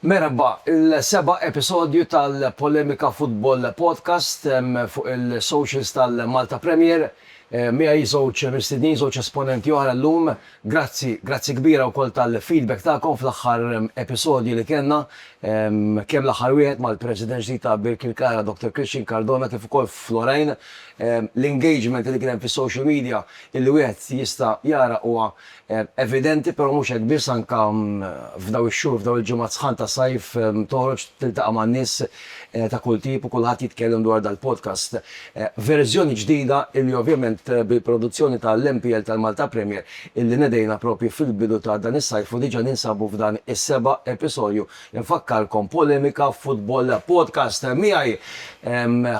Merħba, il-seba' episodju tal-Polemika Football Podcast fuq il-socials tal-Malta Premier. Miegħi żewġ mistednin, żewġ esponenti oħra llum. Grazzi, grazzi kbira wkoll tal-feedback tagħkom fl-aħħar episodji li kellna, kemm l-aħħar wieħed mal-President ġdid ta' Birkirkara, Dottor Christian Cardona, kif ukoll f'Lorraine. L-engagement li kien hemm fis-social media li wieħed jista' jara huwa evidenti però mhux hekk biss anke f'dawn ix-xhur f'dawn il-ġimgħat sħan ta' sajf toħroġ tiltaqa' ma' nies ta' kull tip u kulħadd jitkellem dwar dal-podcast verżjoni ġdida illi ovvjament bil-produzzjoni ta' l-MPL tal-Malta Premier illi nedejna propju fil-bidu ta' dan is-sajf u diġa ninsabu f'dan is-seba' episodju infakkarkom Polemika Football Podcast miegħi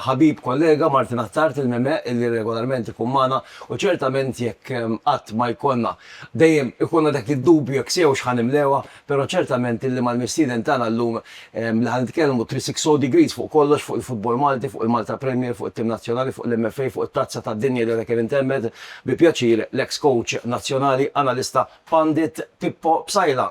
ħabib kollega Martin Attard il-Meme illi regolarment ikun magħna U ċertament jekk qatt ma jkollna, dejjem ikollna dak id-dubju jekk sewx ħa nimlewha, però ċertament illi mal-mistieden tagħna llum li ħa nitkellmu 360 degrees fuq kollox, fuq il-futbol Malti, fuq il-Malta Premier, fuq it-tim nazzjonali, fuq l-MFA, fuq it-Tazza tad-Dinja li għadha kemm intemmet, bi pjaċir l-eks coach nazzjonali, analista, pandit, Pippo Psaila.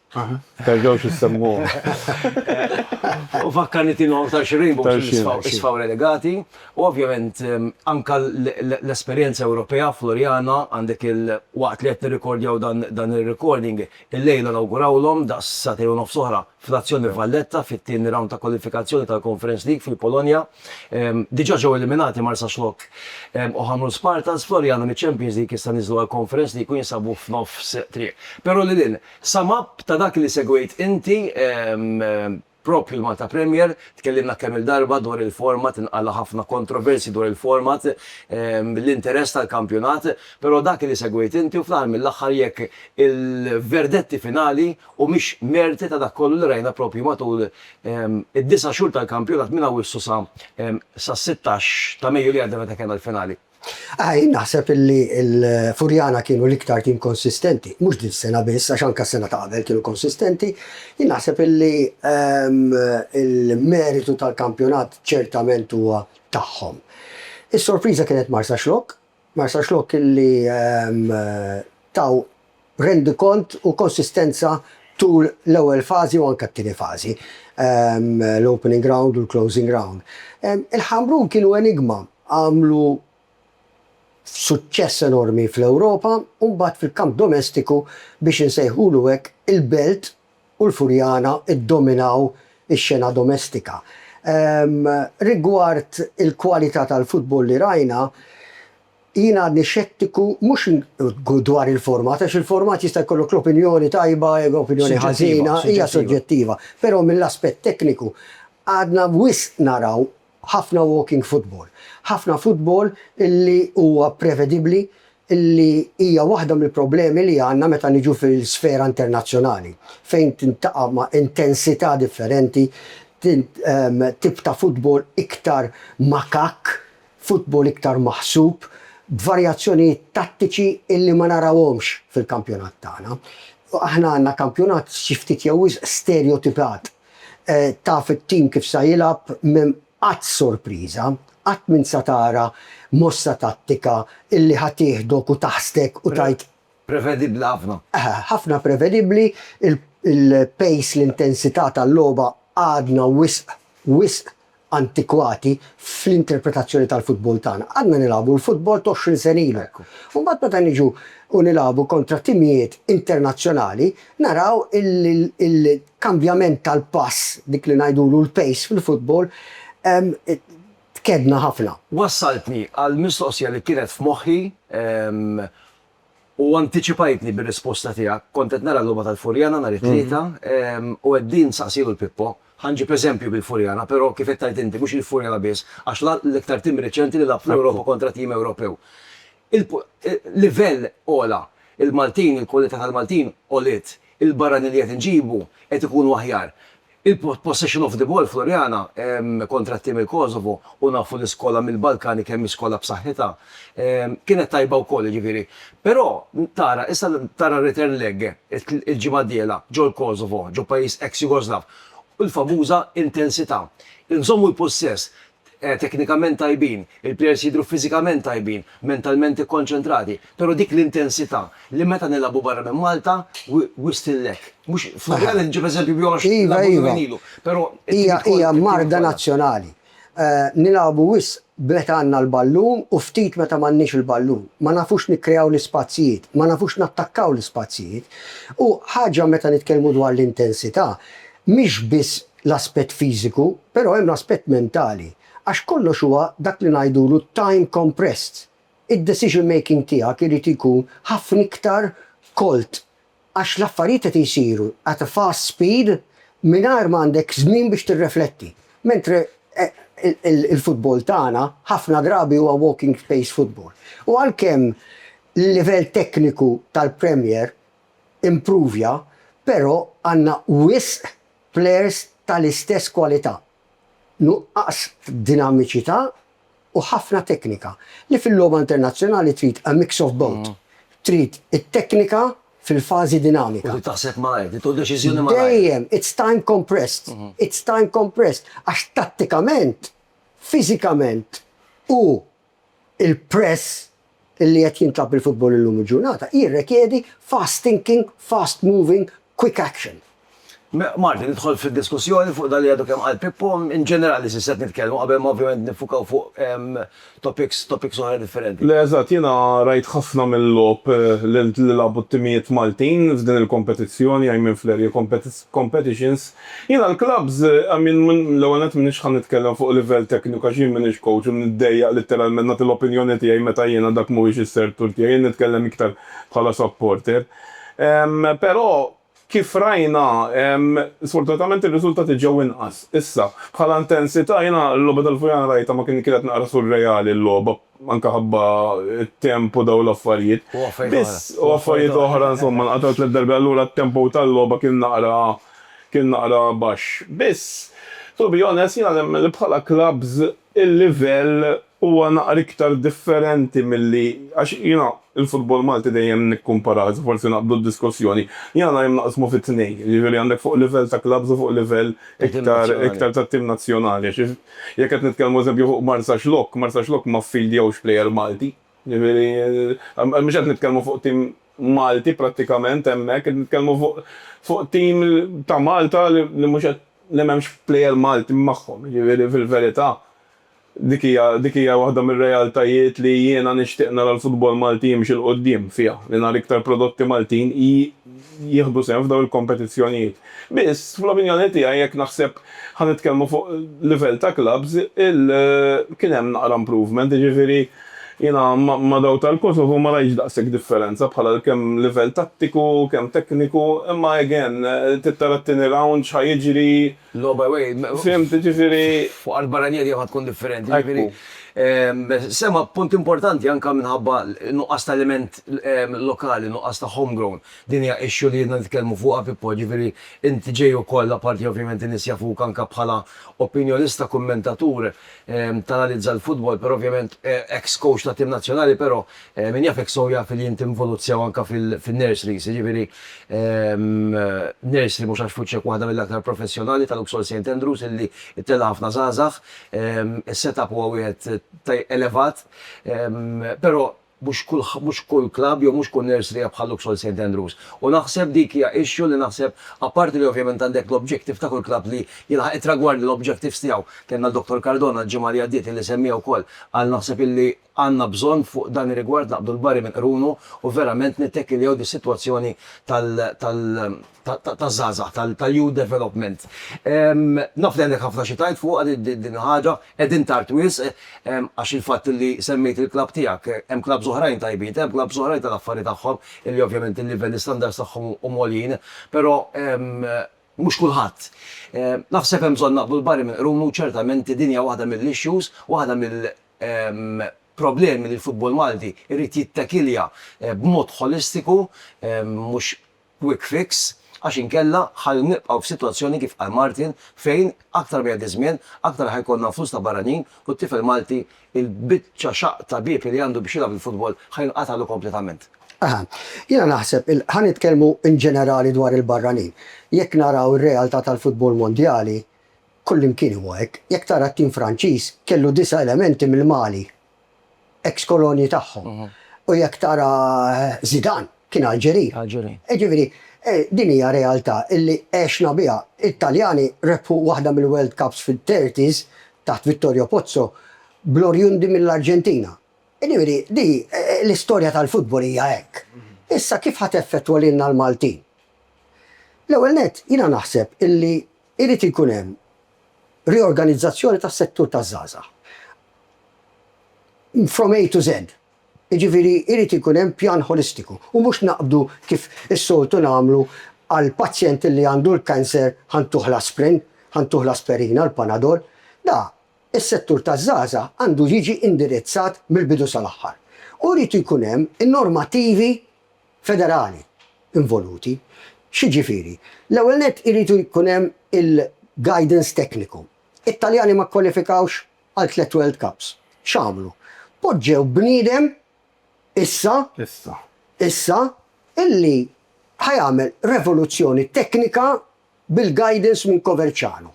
Terġgħux issemmuhom. U fakkarni tieni għodd għal xi rainbows isfaw relegati. U ovvjament anke l-esperjenza Ewropea Floriana għandek il waqt li qed nirrikordjaw dan ir-recording illejla nawgurawlhom daqs sagħtejn u nofs oħra fl-azzjoni Valletta fit-tieni round ta' kwalifikazzjoni tal-Conference League fil-Polonja. Diġà ġew eliminati Marsaxlokk u Ħamrun Spartans, Floriana miċ-Champions League issa niżlu għall-Conference League u jinsabu f'nofs triq. Però lil hinn Sum up ta' dak li segwejt inti propju l-Malta Premier, tkellimna kemm-il darba dwar il-format, nqala' ħafna kontroversji dwar il-format, l-interess tal-kampjonat, però dak li segwejt inti u fl-aħħar mill-aħħar jekk il-verdetti finali humiex merti ta' dak kollu li rajna propju matul id-disa' xhur tal-kampjonat minn Awwissu sa sas-sittax ta' Mejju li għadda meta kellna l-finali. Aha, jien naħseb li l-Furjana kienu l-iktar tim konsistenti, mhux din is-sena biss għax anke s-sena ta' qabel kienu konsistenti. Jien naħseb li l-meritu tal-kampjonat ċertament huwa tagħhom. Is-sorpriża kienet Marsaxlokk, Marsaxlokk li taw rendikont u konsistenza tul l-ewwel fażi u anke t-tieni fażi, l-opening round u l-closing round. Il-Ħamrun kienu enigma, għamlu suċċess enormi fl-Ewropa u mbagħad fil-kamp domestiku, biex insejħulu hekk, il-Belt u l-Furjana ddominaw ix-xena domestika. Rigward il-kwalità tal-futbol li rajna, Jien għadni xettiku mhux dwar il-format għax il-format jista' jkollok l-opinjoni tajba jew opinjoni ħażina, hija soġġettiva, però mill-aspett tekniku għadna wisq naraw ħafna walking football. Ħafna futbol li huwa prevedibbli li hija waħda mill-problemi li għandna meta niġu fil-sfera internazzjonali fejn tintaqa' ma' intensità differenti, tip ta' futbol iktar makakk Futbol iktar maħsub, b'varjazzjonijiet tattiċi illi ma narawhomx fil-kampjonat tagħna. Aħna għandna kampjonat xi ftit jew wisq sterjotipat. Taf it-tim kif sa jilgħab, m'hemm qatt sorpriża, qatt m'int sa tara mossa tattika illi ħa tieħdok u taħsdek u tgħid. Prevedibbli ħafna. Ħafna prevedibbli, il-pace, l-intensità tal-logħba għadna wisq, wisq antikwati fl-interpretazzjoni tal-futbol tagħna. Għadna nilagħbu l-futbol ta' għoxrin sen ilu. U mbagħad meta niġu u nilagħbu kontra timijiet internazzjonali, naraw illi l-kambjament tal-pass, dik li ngħidulu l-pace fil-futbol, tkedna ħafna. Wassaltni għal mistoqsija li kienet f'moħħi, U antiċipajtni bir-risposta tiegħek. Kont qed nara l-logħba tal-Furjana nhar it-Tlieta u qegħdin nsaqsi lil Pippo. Ħa nġib eżempju bil-Furjana, però kif qed tgħid inti, mhux il-Furjana biss, għax l-iktar tim reċenti li lagħab fl-Ewropa kontra tim Ewropew. Il-livell għola. Il-Maltin, il-kwalità tal-Maltin għoliet. Il-barranin li qed inġibu qed ikunu aħjar. Il-possession of the ball Floriana kontra t-tim il-Kosovo u nafu li skola mill-Balkani kemm hi skola b'saħħitha kienet tajba wkoll jiġifieri però tara issa tara r-return leg il-ġimgħa d-dieħla ġol-Kosovo ġo pajjiż ex-Jugoslav u l-famuża intensità. Inżommu l-pussess teknikament tajbin, il-plejers jidhru fiżikament tajbin, mentalment ikkonċentrati, però dik l-intensità li meta nilagħbu barra minn Malta wisq tinlekk. Mhux, fl-Unjani nġib eżempju bih għax nilagħbu ġuvenili, però Hija, hija marda nazzjonali. Nilagħbu wisq b'meta għandna l-ballun u ftit meta m'għandniex il-ballun. Ma nafux nikkreaw l-ispazjijiet, ma nafux nattakkaw l-ispazjijiet. U ħaġa meta nitkellmu dwar l-intensità, mhix biss l-aspett fiżiku, però hemm l-aspett mentali, għax kollox huwa dak li ngħidulu time compressed. Id-decision making tiegħek irid ikun ħafna iktar kolt għax l-affarijiet qed isiru at a fast speed mingħajr ma għandek żmien biex tirrefletti. Mentre il-futbol tagħna ħafna drabi huwa walking pace football. U għalkemm l-livell tekniku tal-Premier impruvja, però għandna wisq plejers tal-istess kwalità, nuqqas f'dinamiċità u ħafna teknika, li fil-logħba internazzjonali trid a mix of both, trid it-teknika fil-fażi dinamika. U trid taħseb malajr, trid tieħu deċiżjoni malajr. Dejjem, it's time compressed, it's time compressed, għax tattikament, fiżikament u Il-press li qed jintlagħab bil-futbol illum il-ġurnata jirrekjedi fast thinking, fast moving, quick action. Marti, nidħol fid-diskussjoni fuq dak li għadu kemm qal Pippo, in ġenerali sisset nitkellmu qabel ma ovvjament niffukaw fuq topics topics oħra differenti. Le eżatt, jiena rajt ħafna mill-logħob li lagħbu t-timijiet Maltin f'din il-kompetizzjoni, I mean fl-area competitions. Jiena l-klabbs, I mean, l-ewwel nett m'iniex ħa nitkellem fuq livell tekniku għax jien m'iniex coach u niddejjaq litteralment nagħti l-opinjoni tiegħi meta jiena dak mhuwiex is-sertur tiegħi, jien nitkellem iktar bħala supporter. Però kif rajna, sfortunatament ir-riżultati ġew inqas. Issa, bħala intensità jiena l-logħba tal-Fujana rajtha ma kienet naqra surreali l-logħba. anke ħabba t-temp u dawn l-affarijiet. U affarijiet oħra. Biss, u affarijiet oħra, insomma, nqatgħu tliet darbi, allura t-tempo tal-logħba kien naqra, kien naqra baxx. Biss, to be honest, jiena nemmen li bħala klabbs il-livell huwa naqra iktar differenti milli, għax jiena l-futbol Malti dejjem nikkumparah, iżda forsi naqbdu d-diskussjoni, jiena dejjem naqsmu fi tnejn, jiġifieri għandek fuq livell ta' klabbs u fuq livell iktar, iktar tat-tim nazzjonali, għax Jekk qed nitkellmu eżempju fuq Marsaxlokk, Marsaxlokk ma ffiljawx plejer Malti. Ġifieri mhux qed nitkellmu fuq tim Malti prattikament hemmhekk, qed nitkellmu fuq fuq tim ta' Malta li li mhux qed li m'hemmx plejer Malti magħhom. Ġifieri fil-verità dik hija dik hija waħda mir-realtajiet li jiena nixtieq nara l-futbol Malti jimxi 'l quddiem fiha, li nara iktar prodotti Maltin. jieħdu sehem f'dawn il-kompetizzjonijiet. Biss, fl-opinjoni tiegħi, jekk naħseb ħa nitkellmu fuq livell ta' clubs, il, kien hemm naqra improvement, jiġifieri jiena ma' dawk tal-Kosovo ma rajtx daqshekk differenza bħala kemm livell tattiku, kemm tekniku, imma again trid tara t-tieni round x'ħa jiġri, No by way. Fhimt, ġifieri. Fuq art barranija dejjem ħa tkun differenti, ġifieri. Sema, punt importanti anke minħabba n-nuqqas ta' element lokali, nuqqas ta' home grown. Din hija issue li ilna nitkellmu fuqha, Pippo, ġifieri int ġej ukoll, apparti ovvjament in-nies jafuk anke bħala opinjonista, kummentatur, tanalizza l-futbol, però ovvjament ex coach ta' tim nazzjonali, però Min jaf hekk sew jaf li int involut sew anke fin-nurseries, jiġifieri nursery mhux għax f'wiċċek waħda mill-aktar professjonali ta' Luxol Saint Andrews illi ttella' ħafna żgħażagħ. Is-set up huwa wieħed elevat, però mhux kull mhux kull klabb jew mhux kull nursery hija bħal Luxol Saint Andrews. U naħseb dik hija issue li naħseb apparti li ovvjament għandek l-objective ta' kull klabb li jilħaq it-tragwardi l-objectives tiegħu, kellna Dottor Cardona l-ġimgħa li għaddiet illi semmiha wkoll, qal naħseb illi Għandna bżonn fuq dan ir-rigward naqbdu l-barri minn qrunu u verament nittekiljaw dis-sitwazzjoni taż-żgħażagħ, tal-youth development. Naf li għandek ħafna xi tgħid fuqha din il-ħaġa, qegħdin tard wisq għax il-fatt li semmejt il-klabb tiegħek, hemm klabbs oħrajn tajbin, hemm klabbs oħrajn tal-affari tagħhom li ovvjament il-livell, l-istandards tagħhom huma għoljin, però mhux kulħadd. Naħseb hemm bżonn naqbdu l-barri minn qrunu u ċertament din hija waħda mill-issues, waħda problemi li l-futbol Malti jrid jittakilja b'mod ħolistiku mhux quick fix għax inkella ħa nibqgħu f'sitwazzjoni kif qal Martin fejn aktar ma jgħaddi ż-żmien aktar ħa jkollna flus ta' barranin u t-tifel Malti il-biċċa xaqq ta' bieb li għandu biex jilgħab il-futbol ħa jinqatagħlu kompletament. Aha. Jiena naħseb il ħa nitkellmu in ġenerali dwar il-barranin. Jekk naraw ir-realtà tal-futbol mondjali Kullimkien huwa hekk. Jekk tara t-tim Franċiż, kellu disa' elementi mill-Mali, eks kolonji tagħhom. U jekk tara Zidane, kien Alġeri. Alġeri. Jiġifieri, din hija realtà li għexna biha. It-Taljani rebħu waħda mill-World Cups fit-thirties taħt Vittorio Pozzo bl-orjundi mill-Arġentina. Jiġifieri, di, l-istorja tal-futbol hija hekk. Issa kif ħa teffettwa lilna l-Maltin? L-ewwel nett, jiena naħseb illi Irid ikun hemm riorganizzazzjoni tas-settur taż-żgħażagħ from A to Z. Jiġifieri jrid ikun hemm pjan ħolistiku u mhux naqbdu kif is-soltu nagħmlu għall-pazjent li għandu l-cancer ħa ntuh l-asprin, ħa ntuh l-asperina, l-panadol. Da, is-settur taż-żgħażagħ għandu jiġi indirizzat mill-bidu sal-aħħar. U jrid ikun hemm in-normativi federali involuti. X'jiġifieri? L-ewwel nett irid ikun hemm il-guidance tekniku. It-Taljani ma kkwalifikawx għal tliet World Cups. X'għamlu? Poġġew bniedem issa, issa, illi ħa jagħmel revoluzzjoni teknika bil-guidance minn Coverciano.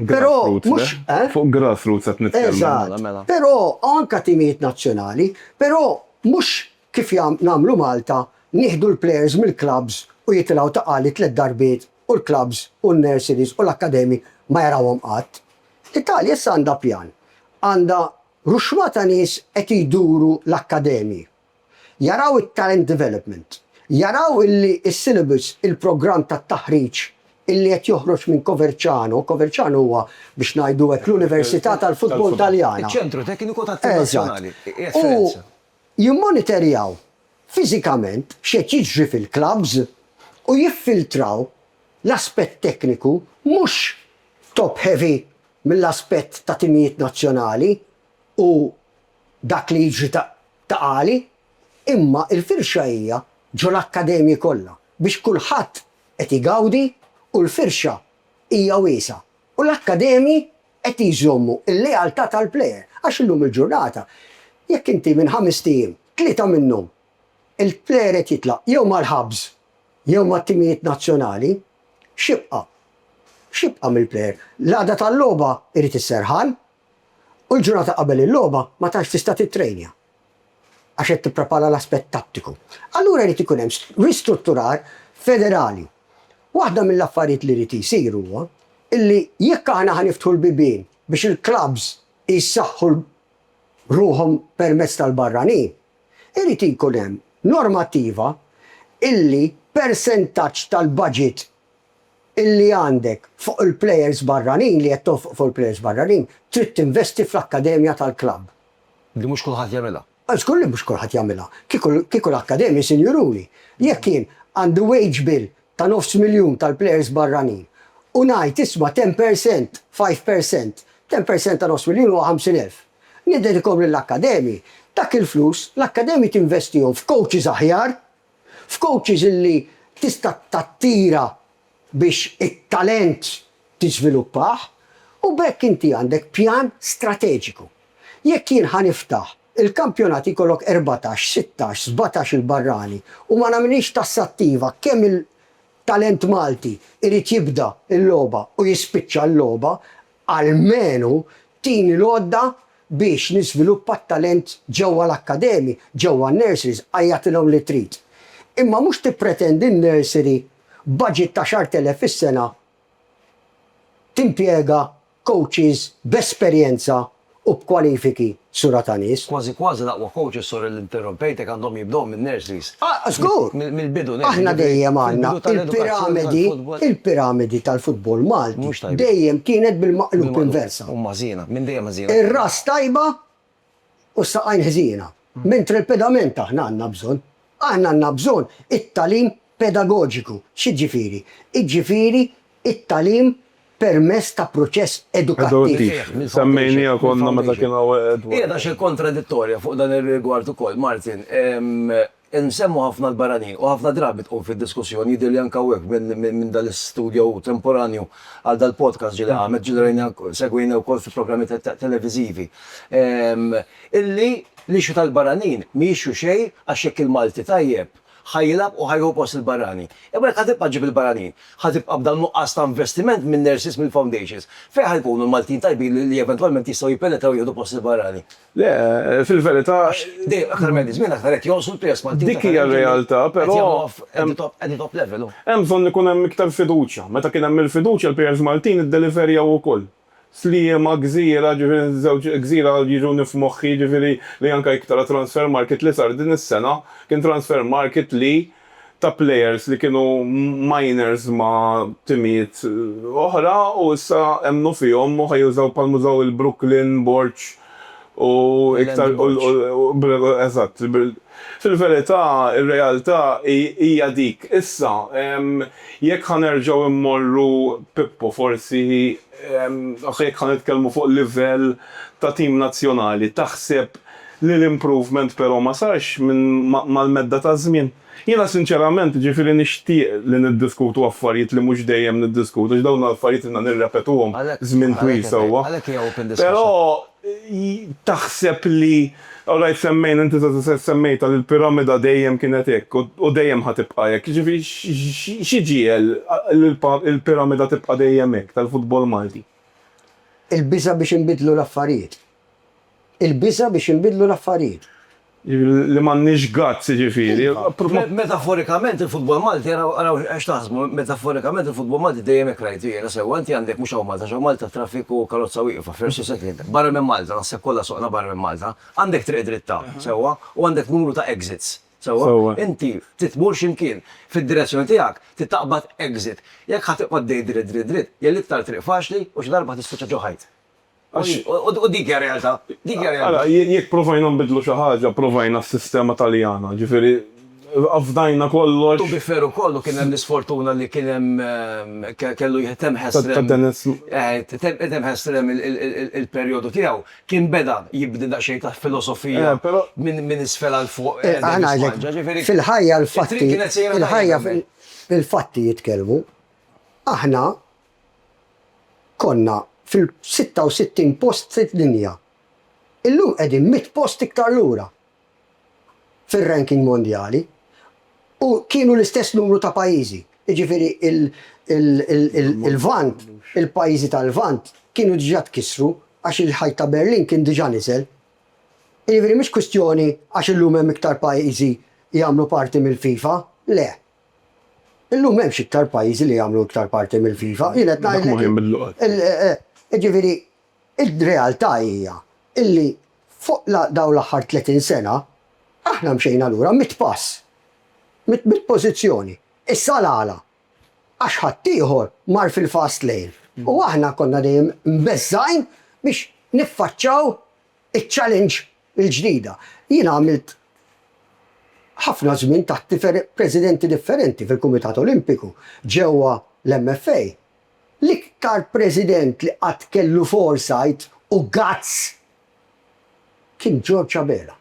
Però mhux eh? Fuq grassroots qed nitkellmu. Eżatt. Mela, mela. Però anka timijiet nazzjonali, però mhux kif jam nagħmlu Malta nieħdu l-players mill-clubs u jitilgħu ta' qali tliet darbiet u l-clubs u n-nurseries u l-akkademji ma jarawhom qatt. L-Italja issa għandha pjan. Għandha ruxma ta' nies qed jduru l-akkademji. jaraw it-talent development, jaraw illi s-syllabus, il-programm tat-taħriġ illi qed joħroġ minn Coverciano, Coverciano huwa biex ngħidu hekk l-Università tal-Futbol Taljana. Iċ-Ċentru Tekniku tat-Tim Nazzjonali qiegħed Firenze. U jimmonitorjaw fiżikament x'qed jiġri fil-klabbs u jiffiltraw l-aspett tekniku mhux top-heavy mill-aspett ta' timijiet nazzjonali u dak li jiġri ta' ta' għali, imma l-firxa hija ġo l-akkademji kollha biex kulħadd qed igawdi u l-firxa hija wiesgħa u l-akkademji qed jżommu l-lealtà tal-plejer għax illum il-ġurnata jekk inti minn ħamest ijiem tlieta minnhom il-plejer qed jitlaq jew mal-Habs jew mat-timijiet nazzjonali x'jibqa' x'jibqa' mill-plejer? L-qagħda tal-logħba jrid is-serħan u l-ġurnata qabel il-logħba ma tantx tista' tittrejnja għax qed tipprepara l-aspett tattiku. Allura jrid ikun hemm ristrutturar federali. Waħda mill-affarijiet li jrid jsir huwa illi jekk aħna ħa niftħu l-bibien biex il-klabbs jsaħħu ruħhom permezz tal-barranin, irid ikun hemm normattiva illi persentaġġ tal-baġit illi għandek fuq il-plejers barranin, li qed tonfoq fuq il-plejers barranin, trid tinvesti fl-akkademja tal-klabb. Li mhux kulħadd jagħmilha. Żgur li mhux kulħadd jagħmilha. Kieku, kieku l-akkademji, sinjuruli, jekk jien għandi wage bill ta' nofs miljun tal-plejers barranin u ngħid isma' ten per cent, five per cent, ten per cent ta' nofs miljun huwa ħamsin elf. Niddedikhom lill-akkademji. Dak il-flus, l-akkademji tinvestihom f'coaches aħjar, f'coaches li tista' tattira biex it-talent tiżviluppah u b'hekk inti għandek pjan strateġiku. Jekk jien ħa niftaħ il-kampjonati jkollok erbatax, sittax, sbatax-il barrani u ma nagħmilhiex tassattiva kemm il-talent Malti jrid jibda l-logħba u jispiċċa l-logħba, almenu tini l-għodda biex niżviluppa t-talent ġewwa l-akkademi, ġewwa n-nurseries, għajjatilhom li trid. Imma mhux tippretendi n-nursery b'budget ta' xahrt elef fis-sena timpjega coaches b'esperjenza u b'kwalifiki sura ta' nies. Kważi kważi l-aqwa coaches, sorry li interrompejtek, għandhom jibdew min-nurseries. Ah, żgur! Mill-bidu nett. Aħna dejjem għandna il-piramidi, il-piramidi tal-futbol Malti dejjem kienet bil-maqlub inversa. Huma ħżiena, minn dejjem ħżiena. Ir-ras tajba u s-saqajn ħżiena. Mentri l-pedament aħna għandna bżonn Aħna għandna bżonn it-tagħlim pedagoġiku. X'jiġifieri? Jiġifieri t-tagħlim permezz ta' proċess edukattiv. Semmejniha konna meta kien hawn Edward. Qiegħda xi kontradittorja fuq dan ir-rigward ukoll, Martin. Insemmu ħafna l-barranin u ħafna drabi tqum fid-diskussjoni, jidhirli anke hawnhekk minn dan l-istudio temporanju għal dal-podcast ġieli qamet, ġieli rajniha, segwejniha wkoll fi programmi televiżivi. Illi l-issue tal-barranin m'hi issue xejn għax jekk il-Malti tajjeb ħa jilgħab u ħa jieħu post il-barrani. Imma jekk ħa tibqa' ġġib il-barranin, ħa tibqa' b'dan nuqqas ta' investiment min-nurses, mill-foundations. Fejn ħa jkunu l-Maltin tajbin li eventwalment jistgħu jippenetraw u jieħdu post il-barrani? Le, fil-verità. Għax dejjem aktar ma jmiss żmien aktar qed jonqsu l-players Maltin ta' talent. Dik hija r-realtà, però. Qed jagħmlu at the top level. Hemm bżonn ikun hemm iktar fiduċja. Meta kien hemm il-fiduċja l-players Maltin iddeliverjaw ukoll. Sliema, gżira, ġifieri żewġ gżira jiġu nif moħħi jiġifieri li anke jekk tara transfer market li sar din is-sena kien transfer market li ta' players li kienu minors ma' timijiet oħra u issa emmnu fihom u ħa jużaw bħalma użaw il-Brooklyn, Borg, u iktar eżatt. Fil-verità, ir-realtà hija dik. Issa, jekk ħa nerġgħu mmorru, Pippo, forsi, jekk ħa nitkellmu fuq livell ta' tim nazzjonali, taħseb li l-improvement però ma sarx mal-medda taż-żmien? Jiena sinċerament, jiġifieri nixtieq li niddiskutu affarijiet li mhux dejjem niddiskutu għax dawn affarijiet ilna nirrepetuhom żmien twil sewwa. Però taħseb li, alright semmejna, inti stess semmejtha li l-piramida dejjem kienet hekk u dejjem ħa tibqa' hekk, jiġifieri xi ġiegħel li l-piramida tibqa' dejjem hekk tal-futbol Malti? Il-biża' biex inbiddlu l-affarijiet. Il-biża' biex jinbidlu l-affarijiet. Li m'għandniex guts jiġifieri. Metaforikament il-futbol Malti, araw x'taħsbu, metaforikament il-futbol Malti dejjem hekk rajtu jiena sewwa, inti għandek mhux hawn Malta għax hawn Malta t-traffiku u l-karozza wieqfa, versu second, barra minn Malta, naħseb kollha soqna barra minn Malta, għandek triq dritta, sewwa, u għandek numru ta' exits, sewwa, inti trid tmur xi mkien, fid-direzzjoni tiegħek trid taqbad exit, jekk ħa tiqgħod dejt dritt dritt dritt, hija l-iktar triq faċli u xi darba ħa tispiċċa ġo ħajt. U dik hija realtà. Dik hija realtà. Ara, jekk provajna nbiddlu xi ħaġa, provajna s-sistema Taljana, ġifieri afdajna kollox. To be fair ukoll u kien hemm l-isfortuna li kien hemm kellu jtemm Heslem. Ta' Dennis. Jtemm Heslem il-perjodu tiegħu. Kien beda jibni daqsxejn ta' filosofija minn isfel għal fuq. Aħna għalhekk. Fil-ħajja l-fatti. Il-ħajja fil-fatti jitkellmu. Aħna. Konna fil-66 post fid-dinja. Illum qegħdin mitt post iktar lura fir-ranking mondjali u kienu l-istess numru ta' pajjiżi, jiġifieri l-Lvant, il-pajjiżi tal-Lvant kienu diġà tkissru għax il-Ħajt ta' Berlin kien diġà niżel. Jiġifieri mhix kwistjoni għax illum hemm iktar pajjiżi jagħmlu parti mill-FIFA, le. Illum m'hemmx iktar pajjiżi li jagħmlu iktar parti mill-FIFA. Jien qed ngħidlek. Dak ma kien mill-luqgħat. Jiġifieri, ir-realtà hija illi fuq dawn l-aħħar 30 sena, aħna mxejna lura mitt pass, mitt mitt pożizzjoni. Issa l-għala? Għax ħaddieħor mar fil-fast lane. U aħna konna dejjem mbeżżgħin biex niffaċċaw iċ-challenge il-ġdida. Jiena għamilt ħafna żmien taħt difer presidenti differenti fil-Kumitat Olimpiku ġewwa l-MFA. L-iktar president li qatt kellu foresight u guts kien George Abela.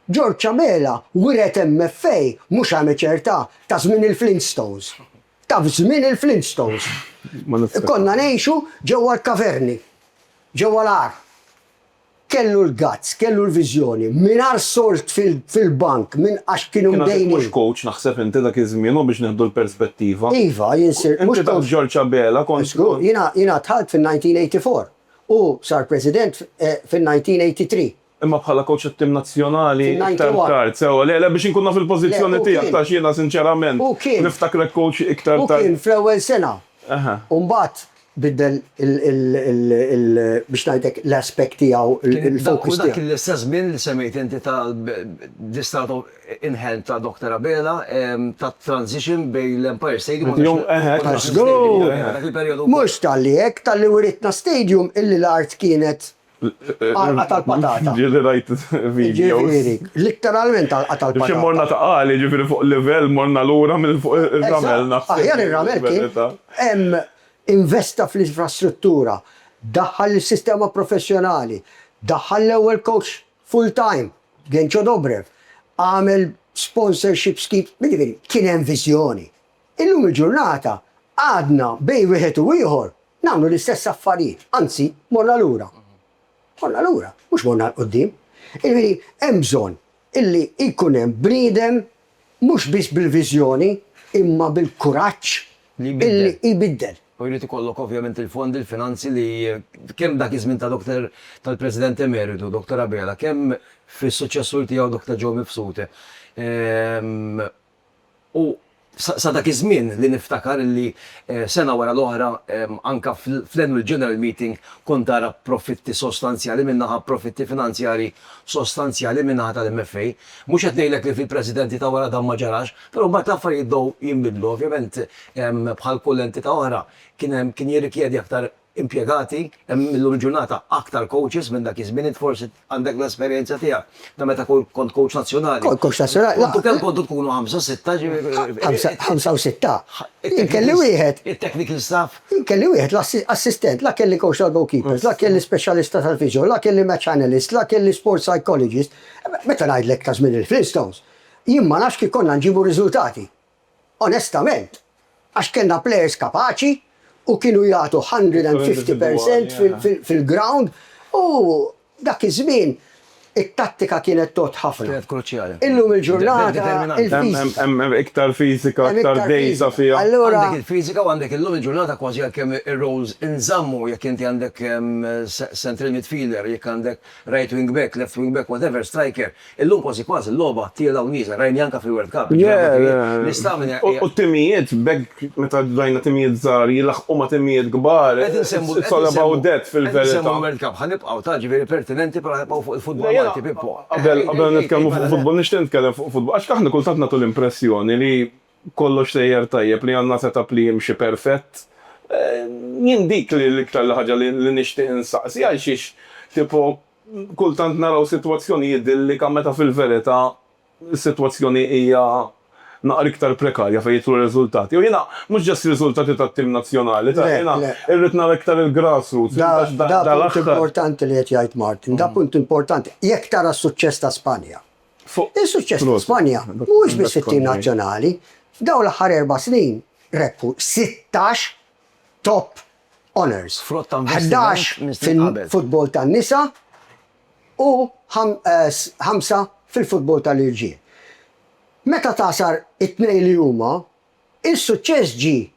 George Abela wiret MFA mhux amateur ta' ta' żmien il-Flintstones. Ta' f'żmien il-Flintstones. Konna ngħixu ġewwa l-kaverni, ġewwa l-għar. Kellu l-guts, kellu l-viżjoni, mingħajr sold fil-bank minn għax kienu mdejnin. Kien għadek mhux coach naħseb inti dak iż-żmien u biex nieħdu l-perspettiva. Iva, jien sirt mhux coach. Inti taf George Abela kont. Żgur, jiena jiena dħalt fin-1984. Hu sar President fin-1983. Imma bħala coach tat-tim nazzjonali iktar tard, sewwa. Le, le, biex inkun naf il-pożizzjoni tiegħek għax jiena sinċerament niftakrek coach iktar tard. Hu kien fl-ewwel sena. U mbagħad biddel il biex ngħidlek l-aspect tiegħu, il-focus tiegħu. Kien dak u dak l-istess żmien li semmejt inti ta' the start of in hand ta' Doctor Abela, tat-transition bejn l-Empire Stadium u l-National Stadium. Dak il-perjodu. Mhux talli hekk, talli writna stadium illi l-art kienet Għalqa tal-patata. Ġieli rajt videos. Ġifieri, litteralment għalqa tal-patata. Xi morna ta' għali, ġifieri fuq livell morna lura minn fuq ir-ramel naħseb. Aħjar ir-ramel kien hemm investa fl-infrastruttura, daħħal is-sistema professjonali, daħħal l-ewwel coach full time, Genco Dobrev, għamel sponsorship scheme, jiġifieri kien hemm viżjoni. Illum il-ġurnata għadna bejn wieħed u ieħor nagħmlu l-istess affarijiet, anzi morna lura. Morna lura, mhux morna 'l quddiem. Jiġifieri hemm bżonn illi jkun hemm bniedem mhux biss bil-viżjoni imma bil-kuraġġ illi jbiddel. U jrid ikollok ovvjament il-fondi, il-finanzi li kemm dak iż-żmien ta' Doktor tal-President Emeritu, Doktor Abela, kemm fis-suċċessur tiegħu Doktor Joe Mifsud, U sa dak iż-żmien li niftakar illi sena wara l-oħra anke fl-Annual General Meeting kont ara profitti sostanzjali minn naħa profitti finanzjarji sostanzjali min-naħa tal-MFA. Mhux qed ngħidlek li fil-Presidenzi ta' wara dan ma ġarax, però mbagħad l-affarijiet bdew jinbidlu. Ovvjament bħal kull entità oħra kien hemm kien jirrikjedi aktar impjegati, hemm illum il-ġurnata aktar coaches minn dak iż-żmien, int forsi għandek l-esperjenza tiegħek ta' meta kont coach nazzjonali. Kont coach nazzjonali. Kontu kemm kontu tkunu ħamsa, sitta ġifieri. Ħamsa u sitta. Kelli wieħed. It-technical staff. Kelli wieħed l-assistent, la kelli coach tal-goalkeepers, la kelli speċjalista tal-physio, la kelli match analyst, la kelli sport psychologist. Meta ngħidlek ta' żmien il-Flintstones, jien ma nafx kif konna nġibu riżultati. Onestament, għax kellna players kapaċi u kienu jagħtu one hundred and fifty percent fil-ground u dak iż-żmien it-tattika kienet tgħodd ħafna. Kienet kruċjali. Illum il-ġurnata il-fiżika. Hemm iktar fiżika, aktar dehsa fiha. Allura. Għandek il-fiżika u għandek illum il-ġurnata kważi għalkemm ir-roles inżammu jekk inti għandek central midfielder, jekk għandek Right wing back, left wing back, whatever, striker, illum kważi kważi l-logħba tiela' u nieżel, rajni anke fil-World Cup, jiġifieri U t-timijiet b'hekk meta rajna timijiet żgħar jilaħħqu ma' timijiet kbar, it's all about that fil-verità. Qed insemmu l-World Cup, ħa nibqgħu ta' ġifieri pertinenti però ħa nibqgħu fuq il-futbol Malti, Pippo. Qabel nitkellmu fuq il-futbol nixtieq nitkellem fuq il-futbol għax aħna kultant nagħtu l-impressjoni li Kollox sejjer tajjeb, li għandna set-up li jimxi perfett. Jien dik li l-iktar li ħaġa li li nixtieq insaqsi, għalxiex tipo kultant naraw sitwazzjoni idillika meta fil-verità s-sitwazzjoni hija naqra iktar prekarja fejn jidħlu r-riżultati. U jiena mhux just riżultati tat-tim nazzjonali, ta' jiena irrid nara iktar il-grassroots. Da punt importanti li qed jgħid Martin, da punt importanti. Jekk tara s-suċċess ta' Spanja, fuq. Is-suċċess ta' Spanja mhuwiex biss fit-tim nazzjonali. F'dawn l-aħħar erba' snin rebħu sittax top honours, ħdax fil-futbol tan-nisa u ħamsa fil-futbol tal-irġiel. Meta tagħsar it-tnejn li huma, is-suċċess ġie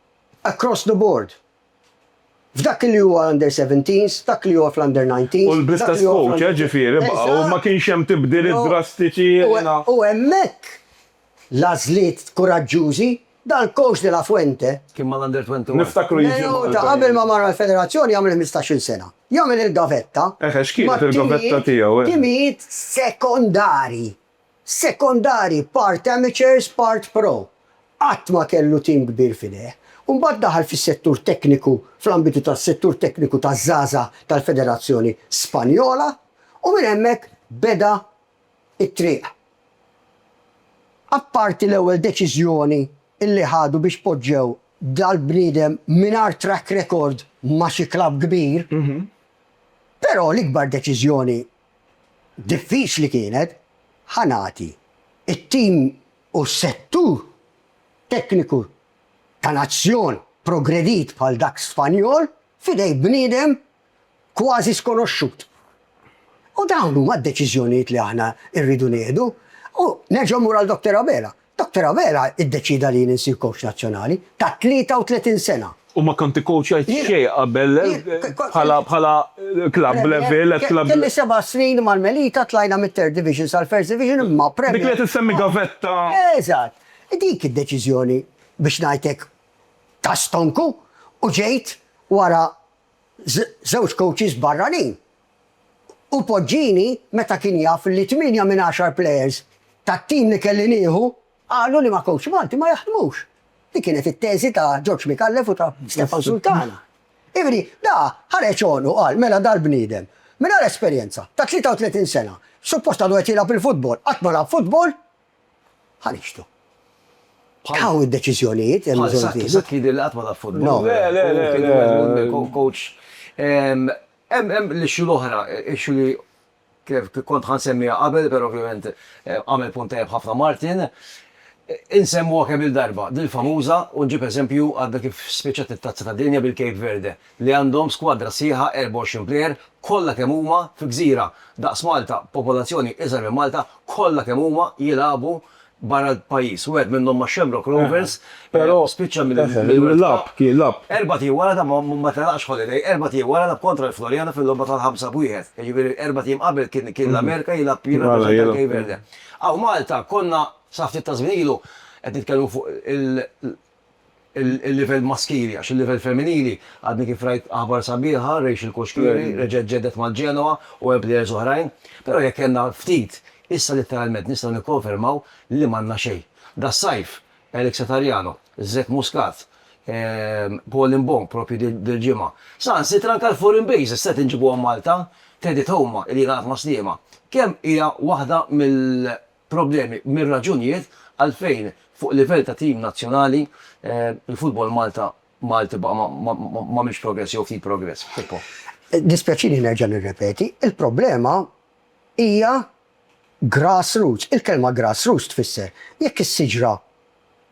across the board. F'dak li huwa under seventeens, f'dak li huwa fl-under nineteens. U bl-istess coach, eh, ġifieri, baqgħu, ma kienx hemm tibdiliet drastiċi, jiena. U hemmhekk l-għażliet kuraġġużi, dal-coach de la Fuente. Kien mal-under twenty one. Niftakru jiġi Malta. Menu ta' qabel ma mar għall-Federazzjoni jagħmel ħmistax-il sena. Jagħmel il-gavetta. Eħe, x'kienet il-gavetta tiegħu, eh? Mat-timijiet sekondarji. Sekondari, part amateurs, part pro. Qatt ma kellu tim kbir f'idejh. Imbagħad daħal fis-settur tekniku fl-ambitu tas-settur tekniku taż-żgħażagħ tal-Federazzjoni Spanjola u minn hemmhekk beda t-triq. Apparti l-ewwel deċiżjoni li ħadu biex poġġew dal-bniedem mingħajr track record ma' xi klabb kbir, però l-ikbar deċiżjoni diffiċli kienet, ħa nagħti, it-tim u s-settur tekniku ta' nazzjon progredit bħal dak Spanjol f'idejn bniedem kważi skonoxxut. U dawn huma d-deċiżjonijiet li aħna rridu nieħdu. U nerġa' mmur għal Doctor Abela. Doctor Abela iddeċieda li jien insir coach nazzjonali ta' 33 sena. U ma kont ikkowċjajt xejn qabel bħala club level, ex club level. Kelli seba' snin mal-Melita, tlajna mit-Third Division sal-First Division imma Premier. Dik li qed issemmi gavetta. Eżatt. Dik id-deċiżjoni biex ngħidlek ta' stonku u ġejt wara żewġ coaches barranin. u Poggini meta kien jaf li tmienja minn għaxar plejers tat-tim li kelli nieħu qalu li ma' kowċ Malti ma jaħdmux. Dik kienet it-teżi ta' George Micallef u ta' Stefan Sultana. Jiġifieri da ħareġ għonqu qal mela dal-bniedem mingħajr esperjenza ta' 33 sena suppost għadu qed jilgħab il-futbol qatt ma lagħab futbol ħa nixhdu. Hawn id-deċiżjonijiet hemm bżonn jittieħdu. Bħal Saqi, Saqi jidher li qatt ma lagħab futbol. Le, le, le, le, le, kowċ. Hemm hemm l-issue l-oħra, issue li kont ħa nsemmiha qabel, però ovvjament għamel punt tajjeb ħafna Martin. Insemmuha kemm-il darba, din famuża u nġib eżempju għadha kif spiċċat it-Tazza tad-Dinja bil-Cape Verde li għandhom skwadra sħiħa 24 plejer kollha kemm huma fi gżira daqs Malta, popolazzjoni iżgħar minn Malta, kollha kemm huma jilagħbu barra l-pajjiż. Wieħed minnhom ma' Shamrock Rovers spiċċa mill-Lap. Erbgħat ijiem wara dan ma telaqx Holiday, erbgħat ijiem wara lagħab kontra l-Floriana fil-logħba tal-ħamsa b'wieħed. Jiġifieri erbgħat ijiem qabel kien l-Amerika jilgħab jirrappreżenta l-Cape Verde. Hawn Malta konna sa ftit taż-żmien ilu qed nitkellmu fuq il-livell maskili għax il-livell femminili għadni kif rajt aħbar sabiħa, Rachel Koshkiri reġgħet ġeddet mal-Genoa u hemm players oħrajn, però jekk kellna ftit, issa litteralment nistgħu nikkonfermaw li m'għandna xejn. Das-sajf, Eric Satariano, Zek Muscat, Paul Mbong proprju dil-ġimgħa. Saħansitra anke l-foreign bases qed inġibuhom Malta, Teddy Thouma li jien għad ma sliema. Kemm hija waħda mill. problemi mir-raġunijiet għalfejn fuq livell ta' tim nazzjonali l-futbol Malta Malti baqa' m'għamilx progress jew ftit progress. Pippo. Jiddispjaċini nerġa' nirrepeti, il-problema hija grassroots. Il-kelma grassroots tfisser jekk is-siġra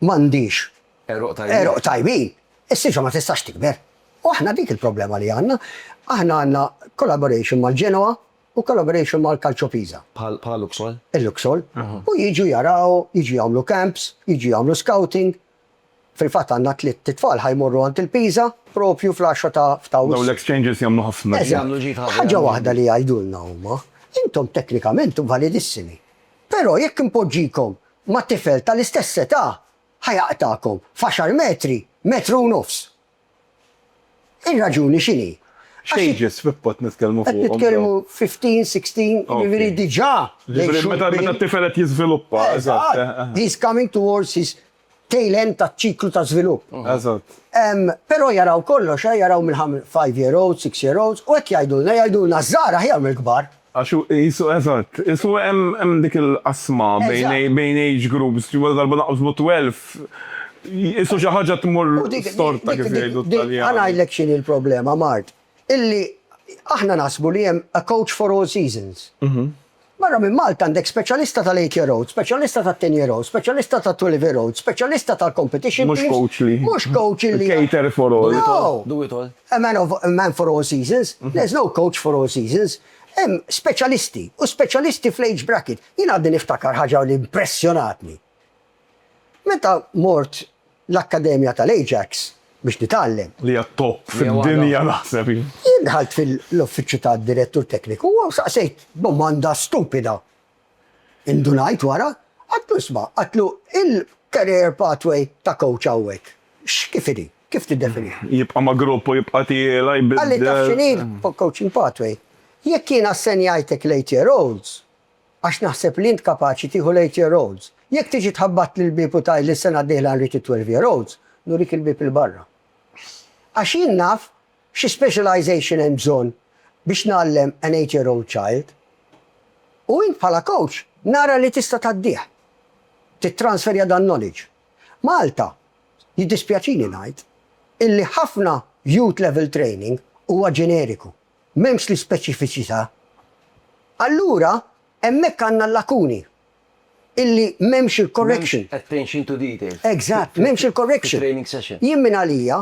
m'għandhiex Għeruq tajbin. għeruq tajbin, is-siġra ma tistax tikber. U aħna dik il-problema li għandna. Aħna għandna collaboration mal-Genoa, u collaboration mal-Calcio Pisa. Bħal bħal Luxol? Il-Luxol. U jiġu jaraw, jiġu jagħmlu camps, jiġu jagħmlu scouting. Fil-fatt għandna tliet itfal ħa jmorru għand il-Pisa proprju fl-għaxra ta' f'Awwissu. Dawn l-exchanges jagħmlu ħafna ġid. Jagħmlu ġid ħafna. Ħaġa waħda li jgħidulna huma, intom teknikament validissimi, però jekk inpoġġikom ma' tifel tal-istess età, ħa jaqtagħkom f'għaxar metri, metru u nofs. Ir-raġuni x'inhi? X'ages f'pod qed nitkellmu fuqhom? Qed nitkellmu 15, 16, jiġifieri diġà lejn xhur kbar. Meta t-tifel qed jiżviluppa. Eżatt. He is coming towards his tail end taċ-ċiklu ta' żvilupp. Eżatt. Però jaraw kollox, jaraw mill-ħamsa, five year olds, six year olds, u hekk jgħidulna, jgħidulna ż-żgħar aħjar mill-kbar. Għax hu qisu, eżatt, qisu hemm dik il-qasma bejn age groups, ġifieri darba naqsmu twelf, qisu xi ħaġa tmur storta kif jgħidu t-Taljani. Ħa ngħidlek x'inhi l-problema, Mart, illi aħna naħsbu li hemm a coach for all seasons. Barra minn Malta għandek speċjalista tal-eight year olds, speċjalista tat-ten year olds, speċjalista tat-twelve year olds, speċjalista tal-competition teams. Mhux coach li. Mhux coach li. Cater for all. Do it all. A man of a man for all seasons, there's no coach for all seasons. Hemm speċjalisti u speċjalisti fl-age bracket. Jien għadni niftakar ħaġa li impressjonatni. Meta mort l-akkademja tal-Ajax biex nitgħallem. Li hija t-top fid-dinja naħseb hi. Jien dħalt fil-uffiċċju tad-direttur tekniku u saqsejt domanda stupida. Indunajt wara, għedtlu isma', għedtlu il-career pathway ta' coach hawnhekk x'kif inhi? Kif tiddefinihom? Jibqa' ma' grupp u jibqa' tiela, jbiddel. Qalli taf x'inhi l-coaching pathway? Jekk jien assenjajtek l-eight year olds, għax naħseb li int kapaċi tieħu l-eight year olds, jekk tiġi tħabbattli l-bieb u tgħidli s-sena d-dieħla nrid it-twelve year olds, nurik il-bieb 'il barra. Għax jien naf xi specialization hemm bżonn biex ngħallem an eight year old child. U int bħala coach nara li tista' tgħaddih. Tittransferja dan knowledge. Malta, jiddispjaċini ngħid, illi ħafna Youth Level Training huwa ġeneriku, m'hemmx l-ispeċifiċità. Allura hemmhekk għandna l-lakuni, illi m'hemmx il-correction. M'hemmx attention to detail. Eżatt, m'hemmx il-correction. Fit-training session. Jien minn għalija,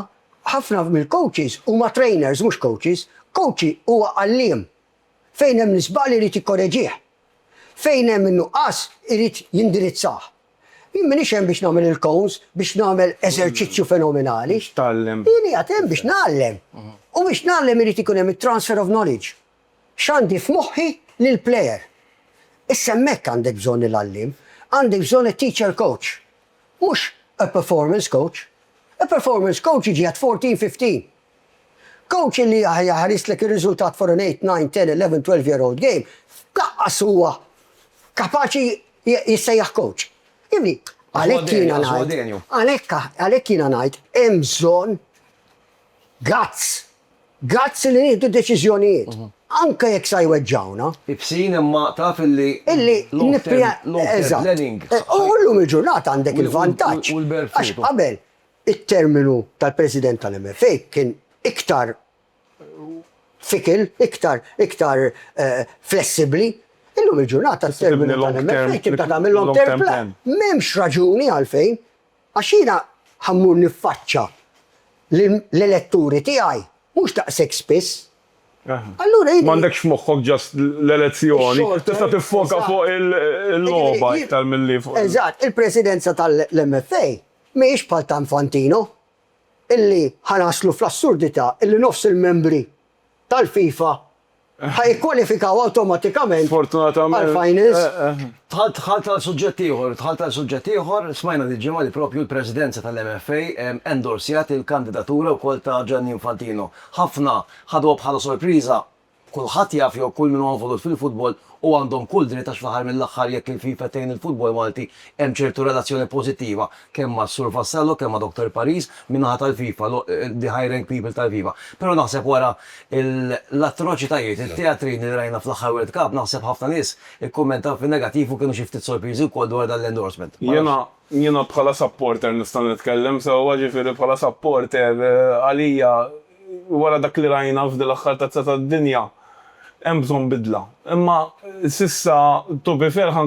ħafna mill-coaches huma trainers mhux coaches. Coach huwa għalliem. Fejn hemm l-iżball irid jikkoreġih. Fejn hemm in-nuqqas irid jindirizzah. Jien m'iniex hemm biex nagħmel il-cones, biex nagħmel eżerċizzju fenomenali. Biex tgħallem. Jien qiegħed hemm biex ngħallem. U biex ngħallem irid ikun hemm it-transfer of knowledge. X'għandi f'moħħi lill-player. Issa hemmhekk għandek bżonn il-għalliem. Għandek bżonn it-teacher coach. Mhux a performance coach. A performance coach jiġi at fourteen, fifteen. Kowċ illi jaħrislek ir-riżultat for an eight, nine, ten, eleven, twelve year old game, laqqas huwa kapaċi jissejjaħ kowċ. Jifhimni? Għalhekk jiena ngħid, għalhekk jiena ngħid hemm bżonn guts. Guts li nieħdu deċiżjonijiet. Anke jekk sa jweġġgħuna. Ibsin imma taf illi long term learning. U llum il-ġurnata għandek il-vantaġġ. Għax qabel it-terminu tal-President tal-MFA kien iktar fickle, iktar, iktar flessibbli. Illum il-ġurnata t-terminu tal-MFA tibda tagħmel long term plan. M'hemmx raġuni għalfejn, għax jiena ħa mmur niffaċċa l-eletturi tiegħi mhux daqshekk spiss. Allura jiena. M'għandekx f'moħħok just l-elezzjoni, tista' tiffoka fuq il-logħba iktar milli fuq. Eżatt, il-Presidenza tal-MFA Mhijiex bħal ta' Infantino, illi ħa naslu fl-assurdità illi nofs il-membri tal-FIFA ħa jikkwalifikaw awtomatikament għall-finals. Dħalt għal suġġett ieħor, dħalt għal suġġett ieħor, smajna dil-ġimgħa li proprju l-Presidenza tal-MFA endorsjat il-kandidatura wkoll ta' Gianni Infantino. Ħafna ħaduha bħala sorpriża, Kulħadd jaf jew kull min huwa involut fil-futbol u għandhom kull dritt għax fl-aħħar mill-aħħar jekk il-FIFA tgħin il-futbol Malti hemm ċertu relazzjoni pożittiva kemm mas-Sur Vassallo kemm ma' Doctor Paris min-naħa tal-FIFA the high rank people tal-FIFA. Però naħseb wara l-atroċitajiet, it-teatrini li rajna fl-aħħar World Cup naħseb ħafna nies ikkummentaw fin-negattiv u kienu xi ftit sorpriżi wkoll dwar dan l-endorsement. Jiena Jiena bħala supporter nista' nitkellem sewwa, ġifieri bħala supporter għalija wara dak li rajna f'din l-aħħar Tazza tad-Dinja hemm bżonn bidla. Imma s'issa to be fair ħa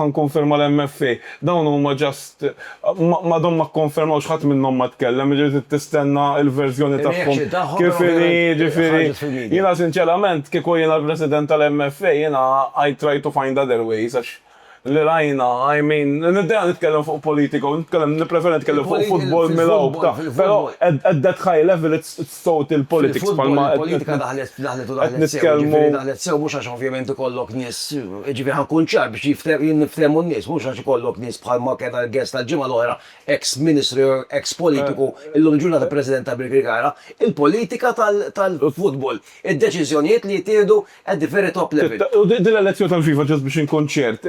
nkonferma l-MFA, dawn huma just m'għadhom ma kkonfermawx ħadd minnhom ma tkellem, jiġifieri trid tistenna l-verżjoni tagħhom kif inhi, jiġifieri jiena sinċerament kieku jiena l-President tal-MFA jiena I try to find other ways għax li rajna, I mean, niddejja nitkellem fuq politika u nitkellem, nippreferi nitkellem fuq futbol mill-hawn, ta', però at that high level it's it's total politics bħalma qed Fil-futbol il-politika daħlet, daħlet u daħlet sew, jiġifieri daħlet sew mhux għax ovvjament ikollok nies, jiġifieri ħa nkun ċar biex jiftehmu, jinftehmu n-nies, mhux għax ikollok nies bħalma kellna l-guest tal-ġimgħa l-oħra, eks ministru jew eks politiku, illum il-ġurnata president ta' Birkirkara, il-politika tal-futbol, id-deċiżjonijiet li jittieħdu At the very top level. U din l-elezzjoni tal-FIFA, ġast biex inkun ċert,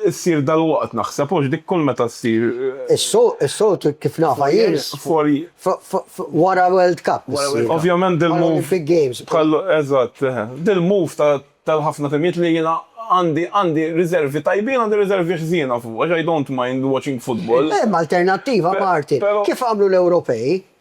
issir dalwaqt naħseb, hux dik kull meta ssir? Is-soltu kif nafha jien, wara l-World Cup issir. Ovvjament dil-move, eżatt, dil-move tal-ħafna timijiet li jiena għandi riservi tajbin, għandi riservi ħżiena fuqha, għax I don't mind watching football. Hemm alternattiva, Martin, kif għamlu l-Ewropej,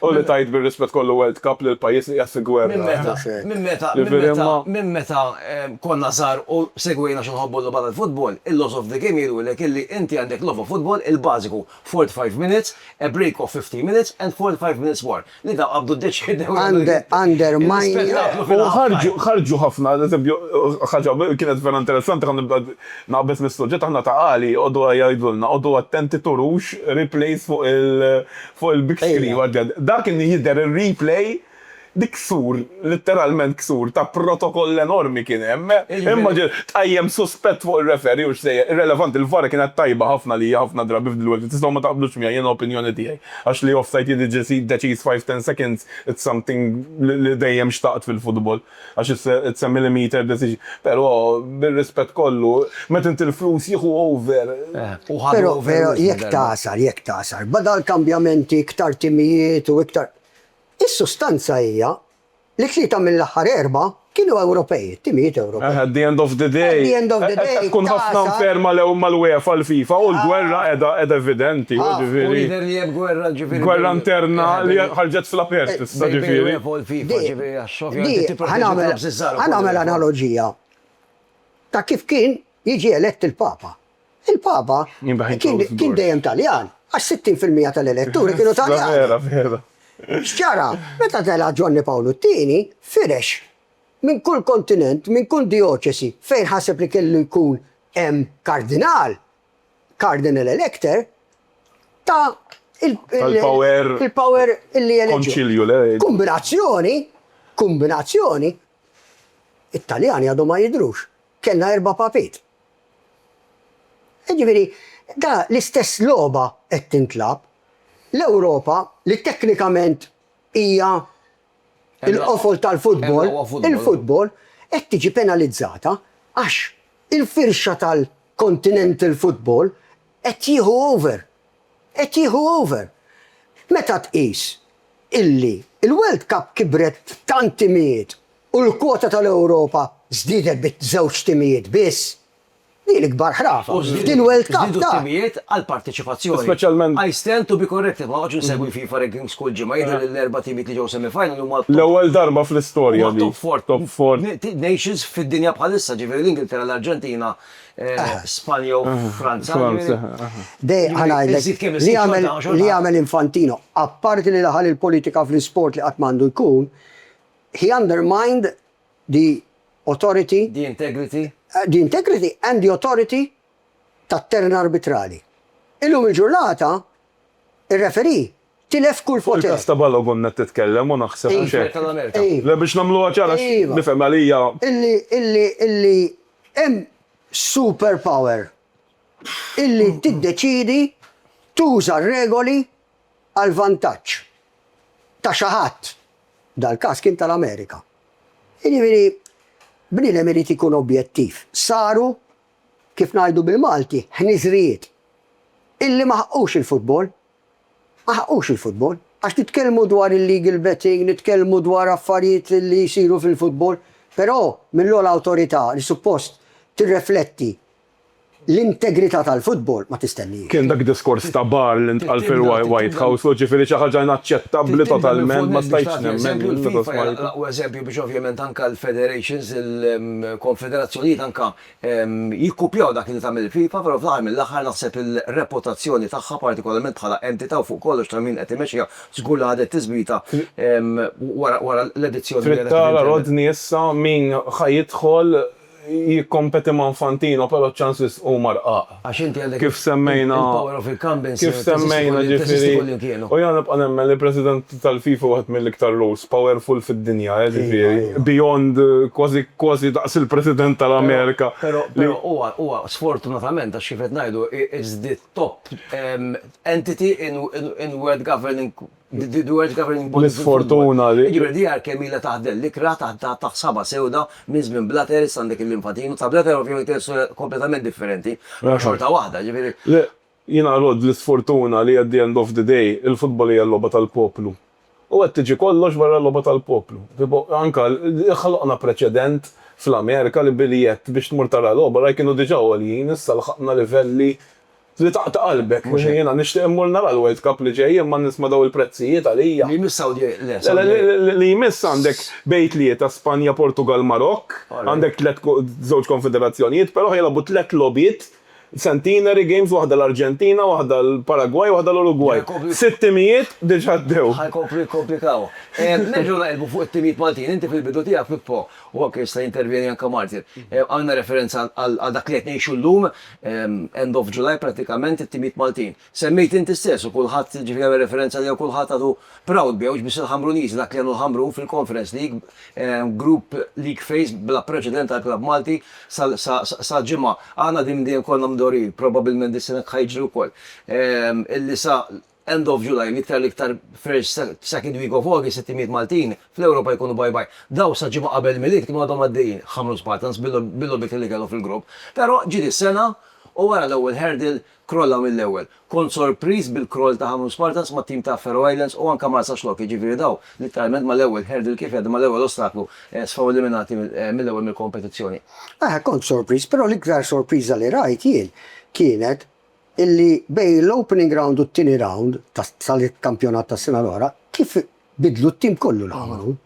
U li tgħid bir-rispett kollu World Cup lil pajjiż li qiegħed fi gwerra. Minn meta, minn meta, minn meta, minn meta konna żgħar u segwejna xi nħobbu nlogħba tal-futbol, il-laws of the game jgħidulek illi inti għandek logħba futbol il-bażiku, forty five minutes, a break of fifteen minutes and forty five minutes more. Li dawn qabdu ddeċiedew l-ispettaklu. Ħarġu ħafna, ad eżempju, ħaġa kienet vera interessanti, ħa nibda naqbeż mis-suġġett, aħna ta' Għali jqogħdu jgħidulna, qogħdu attenti turux replays fuq il, Fuq il big screen u għaddew. Dak li jidher il replay dik ksur, litteralment ksur, ta' protokoll enormi kien hemm. Immaġina, tqajjem suspett fuq ir-referee u x'sejjer. Irrelevanti, il-var kienet tajba ħafna li hija ħafna drabi f'dil wiċċ. Tistgħu ma taqblux miegħi, hija opinjoni tiegħi. Għax li offside jiġi deċiż five, ten seconds, it's something li dejjem xtaqt fil-futbol. Għax issemmi li meter deċiż. Però, bir-rispett kollu, meta inti l-flus jieħu over u ħadu over wisq darba. Però jekk tagħsar, jekk tagħsar, badal kambjamenti, iktar timijiet u iktar, is-sustanza hija li tlieta mill-aħħar erbgħa kienu Ewropej, it-timijiet Ewropej. At the end of the day, qed tkun ħafna unfair mal-UEFA u l-FIFA u l-gwerra qiegħda evidenti, jiġifieri. U jidher li hemm gwerra, jiġifieri. Gwerra interna li ħarġet fl-apert issa, jiġifieri. Di, ħa nagħmel analoġija ta' kif kien jiġi elett il-Papa. Il-Papa kien dejjem Taljan, għax 60 fil-mija tal-eletturi kienu Taljani. X'ġara? Meta tela' Ġwanni Pawlu t-Tieni, firex minn kull kontinent, minn kull dioċesi fejn ħaseb li kellu jkun hemm kardinal, Cardinal Elector ta il power illi eleġġu. Kombinazzjoni, kombinazzjoni, it-Taljani għadhom ma jidhrux, kellna erba' papiet. Jiġifieri, da l-istess logħba qed tintlagħab. L-Ewropa li teknikament hija Il-qofol tal-futbol, il-futbol, qed tiġi penalizzata għax il-firxa tal-continental futbol qed jieħu over. Qed jieħu over. Meta tqis illi l-World Cup kibret b'tant timijiet u l-kwota tal-Ewropa żdiedet bi żewġ timijiet biss, Hi l-ikbar ħrafa f'din World Cup. Żdiedu t-timijiet għall-parteċipazzjoni. I stand to be corrected, ma noqgħodx insegwi FIFA rankings kull ġimgħa, jidher li l-erba' timijiet li ġew semi-final huma t-top. L-ewwel darba fl-istorja li. Top four nations fid-dinja bħalissa, ġifieri l-Ingilterra, l-Arġentina, Spanja u Franza. Dej ħa ngħidlek li għamel Infantino, apparti li daħal il-politika fl-isport li qatt m'għandu jkun, he undermined the authority. The integrity. The integrity and the authority tat-turn arbitrali. Illum il-ġurnata, ir-referee tilef kull poter. Fuq il-każ ta' Ballo kont qed titkellem u naħseb mhux hekk? Iva, tal-Amerika. Le biex nagħmluha ċara għax nifhem għalija. Illi, illi, illi hemm superpower illi tiddeċiedi tuża r-regoli għall-vantaġġ ta' xi ħadd, dal-każ kien tal-Amerika. Jiġifieri bniedem irid ikun objettiv. Saru, kif ngħidu bil-Malti, ħniżrijiet illi ma ħaqqux il-futbol. Ma ħaqqux il-futbol. Għax nitkellmu dwar illegal betting, nitkellmu dwar affarijiet li jsiru fil-futbol, però mill-ogħla awtorità li suppost tirrefletti L-integrità tal-futbol ma tistennix. Kien dak diskors ta' bar li ntqal fil-White House u ġifieri xi ħaġa inaċċettabbli totalment, ma stajtx nemmen meta smajtu. Il-FIFA hija l-aqwa eżempju biex ovvjament anke l-federations, il-konfederazzjonijiet anke jikkupjaw dak li tagħmel il-FIFA, però fl-aħħar mill-aħħar naħseb il-reputazzjoni tagħha partikolarment bħala entità u fuq kollox ta' min qed imexxiha żgur li ħadet tiżwita wara l-edizzjoni li kellha fil-Ġermanja. Trid tara Rodney issa min ħa jidħol. jikkompeti ma' Infantino però ċ-ċans wisq huma rqaq. Għax inti għandek Kif semmejna il-power of incumbency Kif semmejna ġifieri u jiena nibqa' nemmen li l-President tal-FIFA wieħed mill-iktar rules powerful fid-dinja eh ġifieri beyond kważi kważi daqs il-President tal-Amerika Però però huwa huwa sfortunatament għax kif qed ngħidu it's the top entity in in world governing L-isfortuna li. Iġifieri d-DR kemm ilha taħdel l-ikra taħt saba' sewda minn żmien Blatter issa għandek il-Linfatin u ta' Blatter ovvjament hija storja kompletament differenti imma xorta waħda ġifieri. Le, jiena nrodd l-isfortuna li at the end of the day il-futbol hija l-logħba tal-poplu u qed tiġi kollox barra l-logħba tal-poplu. Tipo anke ħloqna preċedent fl-Amerika li biljett biex tmur tara logħba, right, kienu diġà għoljin issa lħaqna livelli Li taqta' qalbek. Mhux hekk. Jiena nixtieq immur nara l-World Cup li ġej imma nisma' dawn il-prezzijiet għalija. Li jmiss Saudi le Saudi. Le le li jmiss għandek bejn tlieta Spanja Portugall Marokk, għandek tliet żewġ konfederazzjonijiet però jilagħbu tliet logħbiet centenary games waħda l-Arġentina, waħda l-Paragwaj, waħda l-Urugwaj. Sitt timijiet diġa' għaddew. Ħa jkomplu jikkomplikaw. Nerġgħu naqilbu fuq it-timijiet Maltin. Inti fil-bidu tiegħek Pippo, u anke jista' jintervjeni anke Martin, għamilna referenza għal dak li qed ngħixu llum, end of July prattikament it-timijiet Maltin. Semmejt inti stess u kulħadd ġifieri għamel referenza għaliha u kulħadd għadu proud biha mhux biss il-Ħamruniżi dak li għamlu l-Ħamrun fil-Conference League, Group League phase bla preċedent għal klabb Malti sal-ġimgħa. Aħna din dejjem konna mdorrijin, probabbilment dis-sena hekk ħa jiġri wkoll. Illi sa End of July, l-iktar l-iktar first second week of August it-timijiet Maltin fl-Ewropa jkunu bye bye. Dawn sa ġimgħa qabel il-Milied kienu għadhom għaddejjin, ħamru Spartans bil-logħbiet li kellhom fil-grupp. Però ġiet is-sena u wara l-ewwel hurdle krollaw mill-ewwel. Kont sorpriż bil-kroll ta' Ħamrun Spartans mat-tim ta' Faroe Islands u anke Marsaxlokk Lock, jiġifieri dawn litteralment mal-ewwel hurdle kif jgħaddu mal-ewwel ostaklu sfaw eliminati mill-ewwel mill-kompetizzjoni. Kont sorpriż, però l-iktar sorpriża li rajt jien kienet illi bejn l-opening round u t-tieni round tal-kampjonat tas-sena l-oħra kif biddlu t-tim kollu li għamlu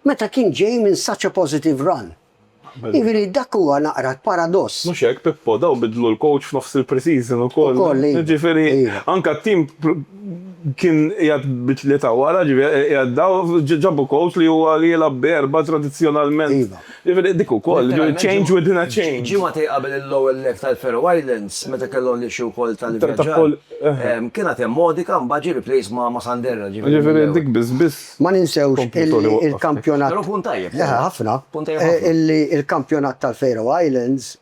meta kien ġej minn such a positive run. Jiġifieri dak huwa naqra l-paradoss. Mhux hekk, Pippo, dawn biddlu l-coach f'nofs il-pre-season ukoll. Ukoll, iva. Jiġifieri anke t-tim kien qiegħed bi tlieta wara, ġifieri qiegħed dawn, ġabu coach li huwa li jilgħab bi erbgħa tradizzjonalment. Iva. Dik ukoll, change within a change. Ġimagħtej qabel il-Lower Lake tal-Faroe Islands, meta kellhom l-issue ukoll tal-ivvjaġġar, kien għad hemm Modica, mbagħad ġie replaced ma' Sanderra, ġifieri dik biss biss. Ma ninsewx illi il-kampjonat. Però punt tajjeb. Ħafna. Punt tajjeb ħafna. Illi il-kampjonat tal-Faroe Islands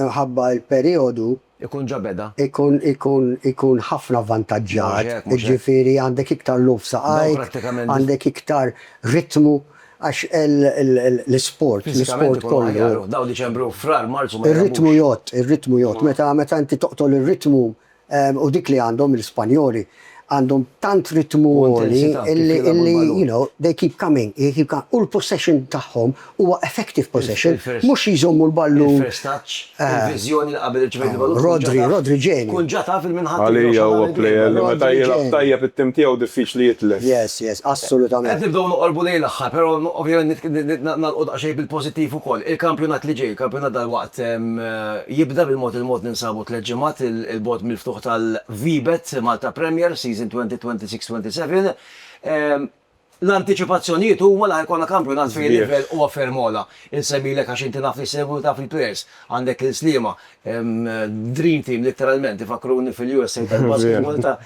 Imħabba il-perijodu. Ikun ġa beda. Ikun ikun ikun ħafna avvantaġġat. Mhux hekk, mhux hekk. Jiġifieri għandek iktar lugħ f'saqajk. Dawn prattikament. Għandek iktar ritmu għax l-isport, l-isport kollu. Fiżikament ikunu aħjar. Dawn Diċembru, Frar, Marzu ma jagħmlux. Ir-ritmu jgħodd, ir-ritmu jgħodd. Meta meta inti toqtol ir-ritmu U dik li għandhom l-Ispanjoli, għandhom tant ritmu għoli illi, you know, they keep coming, they keep coming. U l-possession tagħhom huwa effective possession, mhux jżommu l-ballun. Il-first touch, il-viżjoni li qabel irċevejt il-ballun. Rodri, Rodri ġenju. Tkun ġa taf il-min ħadd. Għalija huwa plejer li meta jilgħab tajjeb it-tim tiegħu diffiċli jitlef. Yes, yes, assolutament. Qed nibdew noqorbu lejn l-aħħar, però ovvjament nagħlqu daqsxejn bil-pożittiv ukoll. Il-kampjonat li ġej, il-kampjonat dalwaqt jibda bil-mod il-mod ninsabu. Tliet ġimgħat 'il bogħod mill-ftuħ tal-VBet Malta Premier Season 2026-27, l-antiċipazzjonijiet huma li ħa jkollna kampjonat fejn il-livell huwa ferm ogħla. Insemmilek għax inti naf li ssegwi u taf il-players. Għandek lil Sliema, dream team litteralment, ifakkruni fil-USA tal-basketball ta'.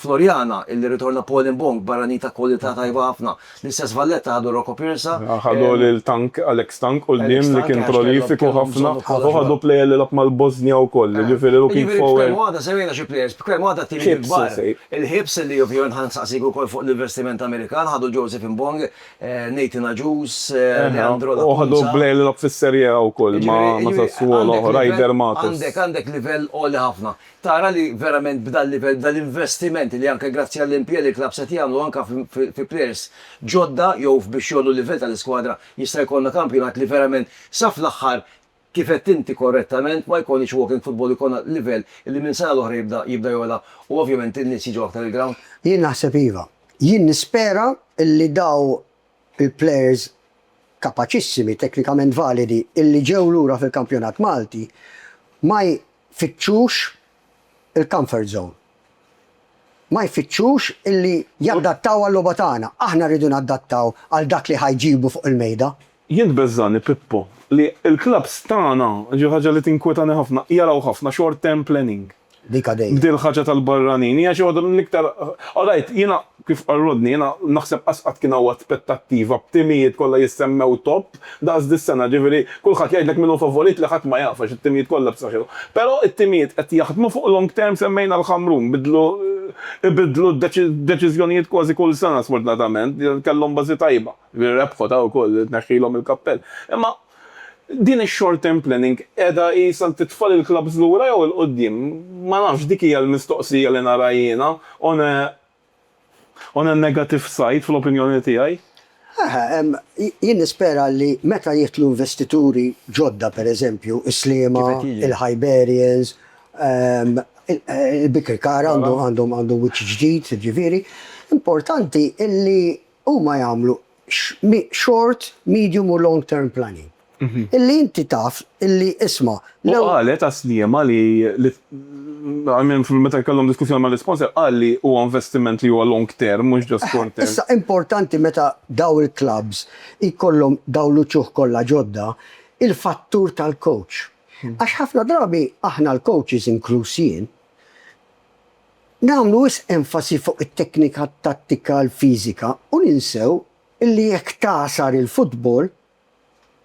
Floriana, illi rritorna Paul Mbong, barranin ta' kwalità tajba ħafna. L-istess Valletta ħadu Rocco Pirsa. Ħadu lil Tank, Alex Tank, quddiem li kien prolifiku ħafna u ħadu plejer li lagħab mal-Bosnja wkoll, jiġifieri looking forward. Jiġifieri b'kelma waħda semmejna xi plejers, b'kelma waħda t-tieni l-ikbar. Il-Hibs illi ovvjament ħa nsaqsik ukoll fuq l-investiment Amerikan, ħadu Joseph Mbong, Nathan Agius, Leandro Lacunza. U ħadu plejer li lagħab fis-Serie A wkoll ma' Sassuolo, Ryder Matos. Għandek, għandek livell għoli ħafna. tara li verament b'dan livell, b'dan l-investiment li anke grazzi għall-impjieg li l-klabbs qed jagħmlu anke fi plejers ġodda jew f'biex jgħollu l-livell tal-iskwadra jista' jkollna kampjonat li verament sa fl-aħħar kif għedt inti korrettament ma jkollniex walking football ikollna livell li minn sena l-oħra jibda jibda jogħla u ovvjament in-nies jiġu aktar il-grawnd. Jien naħseb iva. Jien nispera li dawn Il-plejers kapaċissimi, teknikament validi, illi ġew lura fil-kampjonat Malti ma jfittxux il-comfort zone. Ma jfittxux illi jaddattaw għal-logħba tagħna. Aħna rridu naddattaw għal dak li ħa jġibu fuq il-mejda. Jien tbeżżagħni, Pippo, li l-klabbs tagħna, xi ħaġa li tinkwetani ħafna, jaraw ħafna short-term planning. Dik għadejja. B'din il-ħaġa tal-barranin, hija xi waħda mill-iktar, all right, jiena, kif qal Rodney, jiena naħseb qas qatt kien hawn aspettattiva b'timijiet kollha jissemmew top daqs dis-sena, ġifieri kulħadd jgħidlek min hu favorit li ħadd ma jaf għax it-timijiet kollha b'saħħithom. Però t-timijiet qed jaħdmu fuq long term semmejna l-Ħamrun, bidlu, ibiddlu d-deċiżjonijiet kważi kull sena sfortunatament, kellhom bażi tajba, rebħu ta' wkoll, tneħħilhom il-kappell. Imma Din ix-short term planning qiegħda qisha titfa' lill-klabbs lura jew 'il quddiem? Ma nafx, dik hija l-mistoqsija li nara jiena on a on a negative side fl-opinjoni tiegħi. Eħe, jien nispera li meta jidħlu investituri ġodda, pereżempju, is-Sliema, il-Hiberians, il-Birkirkara għandu wiċċ ġdid, jiġifieri importanti li huma jagħmlu short, medium u long term planning. Illi inti taf illi isma', l-ewwel. U qalet għas Sliema li I mean meta kellhom diskussjoni mal-isponsor qal li huwa investiment li huwa long term mhux just short term. Issa importanti meta dawn il-klabbs jkollhom dawn l-uċuħ kollha ġodda, il-fattur tal-coach. Għax ħafna drabi aħna l-coaches inkluż jien, Nagħmlu wisq enfasi fuq it-teknika tattika l-fiżika u ninsew illi jekk tagħsar il-futbol,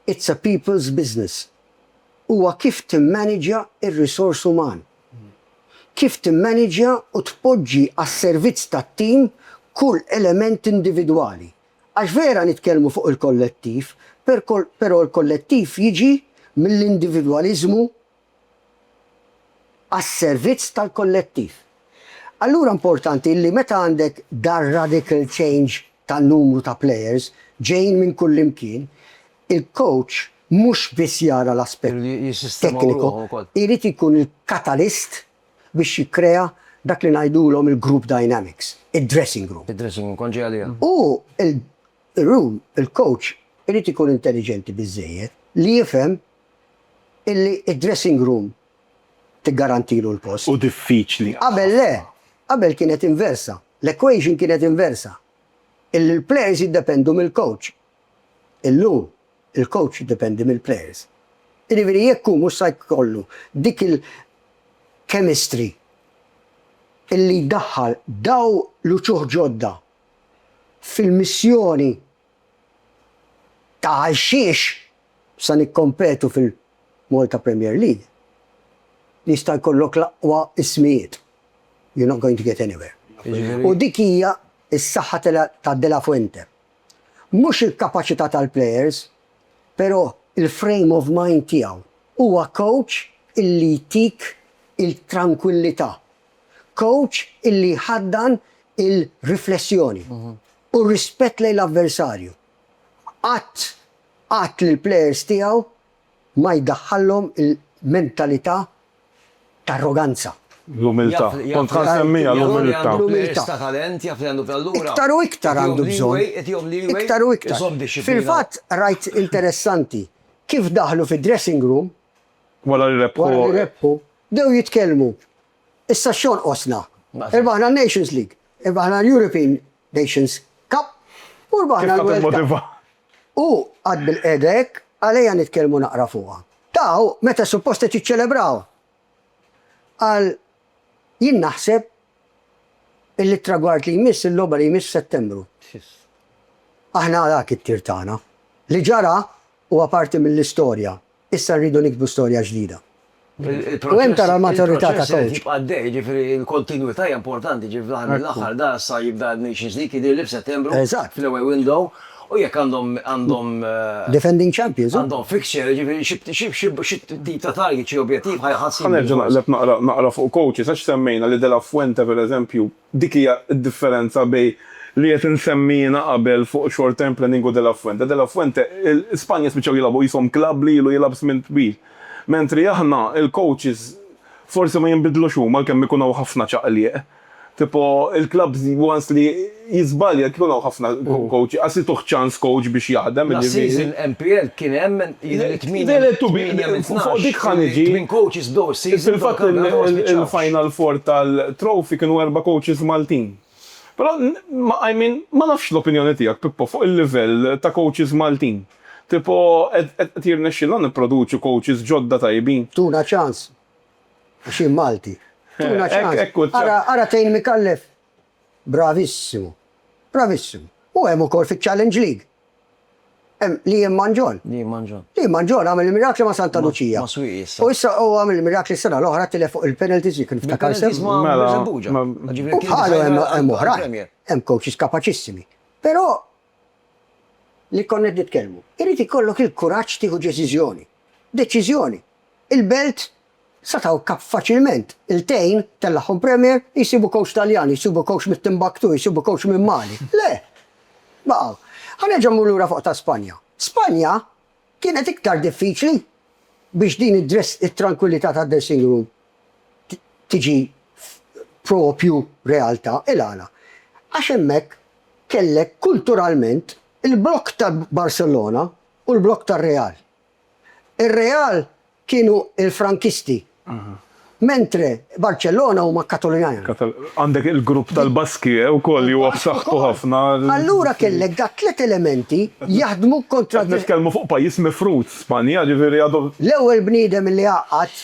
it's a people's business. Huwa kif timmaniġja r-risors uman. Kif timmaniġja u tpoġġi għas-servizz tat-tim kull element individwali. Għax vera nitkellmu fuq il-kollettiv, però l-kollettiv jiġi mill-individwaliżmu għas-servizz tal-kollettiv. Allura importanti illi meta għandek dar-radical change tan-numru ta' players ġejjin minn kullimkien, il-coach mhux biss jara l-aspett tekniku, irid ikun il-catalyst biex jikkrea dak li ngħidulhom il-group dynamics, id-dressing room. U l-room, il-coach irid ikun intelliġenti biżżejjed li jifhem illi d-dressing room tiggarantilu l-post. Hu diffiċli ħafna. Qabel le, qabel kienet inversa, l-equation kienet inversa, illi l-players jiddependu mill-coach. Illum, il-coach jiddependi mill-players. Jiġifieri jekk hu mhux sa jkollu dik il-chemistry illi jdaħħal dawn l-uċuħ ġodda fil-missjoni Ta' għalxiex sa nikkompetu fil-Malta Premier League li jista' jkollok l-aqwa ismijiet, you're not going to get anywhere. U dik hija s-saħħa ta' De La Fuente. Mhux il-kapaċità tal-players, pero' il-frame of mind tiegħu. Huwa coach illi jtik il-trankwillità. Coach illi jħaddan il-riflessjoni. u r-rispett lejn l-avversarju. Qatt, qatt lill-plejers tiegħu ma jdaħħallhom il-mentalità ta' arroganza. L-umiltà. Kont ħa nsemmiha l-umiltà. L-umiltà. Iktar u iktar għandu bżonn. Iktar u iktar. Fil-fatt rajt interessanti kif daħlu fid-dressing room, wara li rebħu, bdew jitkellmu. Issa x'jonqosna? Irbaħna n-Nations League, irbaħna l-European Nations Cup u rbaħna l-World Cup. Kif ħa timmotiva? U qatt bilqiegħda hekk, għalejja nitkellmu naqra fuqha. Tagħu meta suppost qed jiċċelebraw. Qal, Jien naħseb illi t-tragward li jmiss, il-logħba li jmiss f'Settembru. Aħna dak it-tir tagħna. Li ġara Huwa parti mill-istorja. Issa rridu niktbu storja ġdida. U hemm tara l-maturità ta' coach. Il-proċess irid jibqa' għaddej, jiġifieri l-kontinwità hija importanti, jiġifieri fl-aħħar mill-aħħar dan issa jibda n-Nations League jidhirli f'Settembru fl-away window u jekk għandhom għandhom Defending champions, hu. Għandhom fixture, jiġifieri xi xi tip ta' target, xi objettiv ħa jħassibhom. Ħa nerġa' naqleb naqra naqra fuq coaches għax semmejna li De La Fuente pereżempju Dik hija d-differenza bejn li qed insemmi jiena qabel fuq short term planning u De La Fuente. De La Fuente, Spanja spiċċaw jilagħbu qishom klabb li ilu jilgħab żmien twil. Mentri aħna, il-coaches forsi ma jinbidlux huma għalkemm ikun hawn ħafna ċaqliq. Tipo, il-klabb once li jiżbalja jkun hawn ħafna coaches, qas ituh ċans coach biex jaħdem, jiġifieri. Last season NPL kien hemm Il-Final Four tal-Trophy kienu erba' coaches Maltin. Però I mean ma nafx l-opinjoni tiegħek Pippo fuq il-livell ta' coaches Maltin. Tipo qed jirnexxielna nipproduċu coaches ġodda tajbin? Tuna ċans. Għax jien Malti. Tuna ċans. Ara tgħin Micallef. Bravissimu. Bravissimu. U hemm ukoll fiċ-Challenge League. Hemm Liam Mangion. Liam Mangion. Liam Mangion għamel il-mirakli ma' Santa Lucia. Ma' Swieqi issa. U issa huwa għamel il-mirakli s-sena l-oħra tilef fuq il-penalties jekk niftakar sew. Bil-penalties ma' Birżebbuġa. Mela. Ġifieri kien. U bħalu hemm oħrajn. Hemm coaches kapaċissimi. Però li konna qed nitkellmu. Irid ikollok il-kuraġġ tieħu deċiżjoni. Deċiżjoni! Il-Belt sa thawn kap faċilment, iltejn, tellagħhom Premier, jsibu kowċ Taljan, jsibu kowċ mit-Timbaktu, jsibu kowċ minn Mali. Le! Baqgħu. Ħa nerġa' mmur lura fuq ta' Spanja. Spanja kienet iktar diffiċli biex din id-dress it-trankwillità tad-dressing room tiġi proprju realtà. Il-għala? Għax hemmhekk kellek kulturalment il-blokk ta' Barcelona u l-blokk tar-Real. Ir-Real kienu l-Frankisti, mentre Barcellona huma Katalunjan. Għandek il-grupp tal-Baskie wkoll li huwa b'saħħtu ħafna. Allura kellek da' tliet elementi jaħdmu kontra. Qed nitkellmu fuq pajjiż mifrud, Spanja, ġifieri għadu. L-ewwel bniedem li għaqqad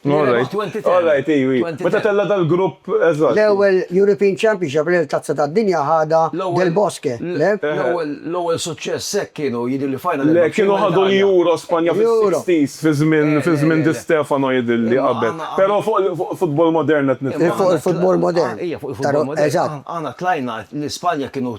Alright, iwi. Meta tella dal-grupp, eżatt. L-ewwel European Championship li l-Tazza tad-Dinja ħadha Del Bosque. L-ewwel suċċess hekk kienu jidhirli final. Le, kienu ħadu l-Euro Spanja fis-60s fi żmien Di Stefano jidhirli qabel. Però fuq futbol modern qed nitkellmu. Fuq il-futbol modern. Ija, fuq il-futbol modern. Eżatt. Aħna tlajna l-Ispanja kienu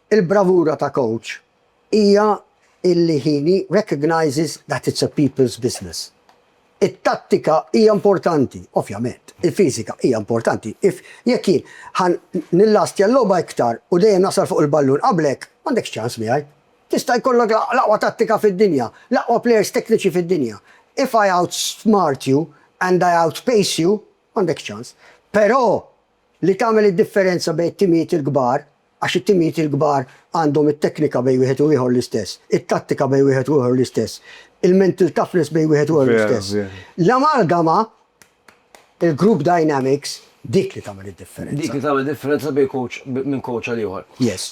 Il-bravura ta' coach hija illi he recognises that it's a people's business. It-tattika hija importanti, ovvjament, il-fiżika hija importanti, if jekk jien ħa nillastja l-logħba iktar u dejjem nasal fuq il-ballun qablek, m'għandekx ċans miegħi. Tista' jkollok l-aqwa tattika fid-dinja, l-aqwa players tekniċi fid-dinja, if I outsmart you and I outpace you, m'għandekx ċans. Però Li tagħmel id-differenza bejn it-timijiet il-kbar, għax it-timijiet il-kbar għandhom it-teknika bejn wieħed u ieħor l-istess, it-tattika bejn wieħed u ieħor l-istess, il-mental toughness bejn wieħed u ieħor l-istess. L-amalgama, il-group dynamics, dik li tagħmel id-differenza. Dik li tagħmel id-differenza bejn coach, minn coach għal ieħor. Yes.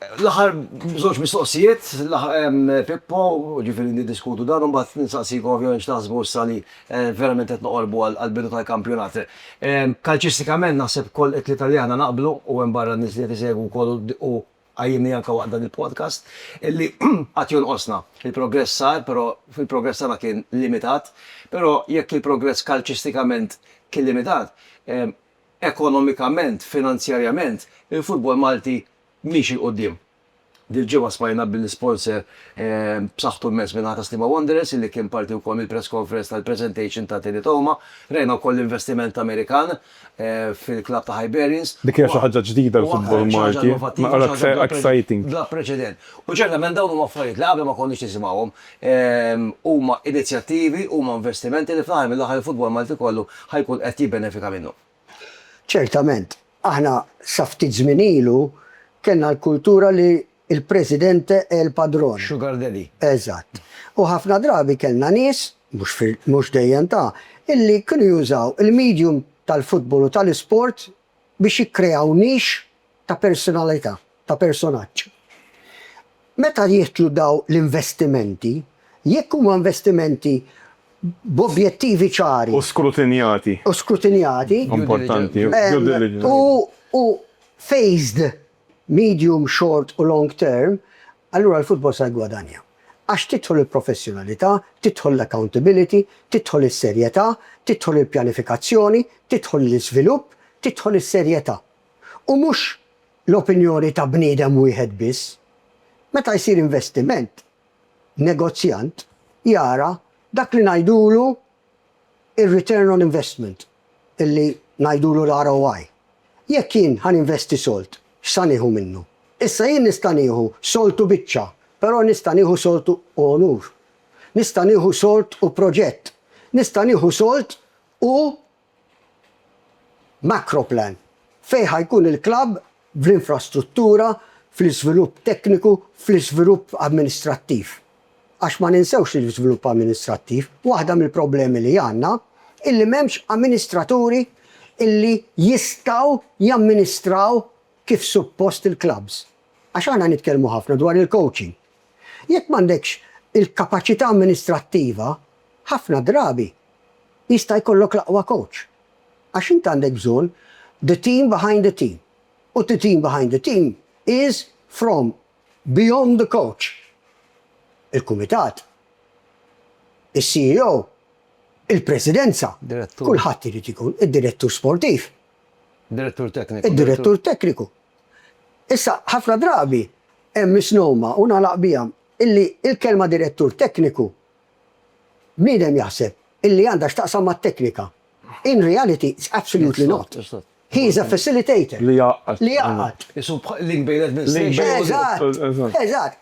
L-aħħar żewġ mistoqsijiet, Pippo, jiġifieri niddiskutu dan u mbagħad nistaqsik ovvjament x'taħsbu issa li verament qed noqorbu għall-bidu tal-kampjonat. Kalċistikament naħseb ukoll it-tlieta li aħna naqblu, u hemm barra n-nies li qed isegwu wkoll u għajjinni anke waqt dan il-podcast, illi għad jonqosna. Il-progress sar, però il-progress tagħna kien limitat. Però jekk il-progress kalċistikament kien limitat, ekonomikament, finanzjarjament, il-futbol Malti miexi 'l quddiem. Dil-ġimgħa smajna bin sponsor b'saħħtu mmens min-naħa ta' Sliema Wanderers illi kien parti wkoll mill-press conference tal-presentation ta' Teddy Toma. Rajna wkoll l-investiment Amerikan fil-klabb ta' Hibernians. Dik hija xi ħaġa ġdida għall-futbol Malti, naqra aktar exciting. Bla preċedent. U ċertament dawn huma affarijiet li qabel ma konniex nisimgħuhom. Huma inizjattivi, huma investimenti li fl-aħħar mill-aħħar il-futbol Malti kollu ħa jkun qed jibbenefika minnhom. Ċertament, aħna sa ftit żmien ilu kellna l-kultura li il presidente è il padrone. Sugar daddy. Eżatt. U ħafna drabi kellna nies, mhux fil, mhux dejjem ta, illi kienu jużaw il medium tal-futbol u tal-isport biex jikkreaw nix ta' persunalità, ta' personaġġ. Meta jidħlu dawn l-investimenti, jekk huma investimenti b'ovjettivi ċari. U skrutinjati. U skrutinjati. Importanti. Due diligence. U phased medium, short u long term, allura l-futbol sa jiggwadanja. Għax tidħol il-professjonalità, tidħol l-accountability, tidħol is-serjetà, tidħol il-pjanifikazzjoni, tidħol l-iżvilupp, tidħol is-serjetà. u mhux l-opinjoni ta' bniedem wieħed biss. Meta jsir investiment, negozjant jara dak li ngħidulu r-return on investment, li ngħidulu l-ROI. Jekk jien ħa ninvesti sold, x'sa nieħu minnu? Issa jien nista' nieħu sold u biċċa, però nista' nieħu sold u onur. Nista' nieħu sold u proġett. Nista' nieħu sold u Macroplan, fejn ħa jkun il-klabb fl-infrastruttura, fl-iżvilupp tekniku, fl-iżvilupp amministrattiv. Għax ma ninsewx li l-iżvilupp amministrattiv, waħda mill-problemi li għandna hi li m'hemmx amministraturi li jistgħu jamministraw kif suppost il-klabbs. Għax aħna nitkellmu ħafna dwar il-coaching. Jekk m'għandekx il-kapaċità amministrattiva, ħafna drabi jista' jkollok l-aqwa kowċ. Għax int għandek bżonn the team behind the team u the team behind the team is from beyond the coach, il-kumitat, is-CEO, il-presidenza, kulħadd irid ikun, id-direttur sportiv, id-direttur tekniku. Issa, ħafna drabi hemm misnomer, u nagħlaq biha, illi l-kelma direttur tekniku, bniedem jaħseb illi għandha x'taqsam mat-teknika. In reality, it's absolutely not. He is a facilitator. Li jgħaqqad. Li jgħaqqad. Isu link bejn l-administration u. Eżatt. Eżatt.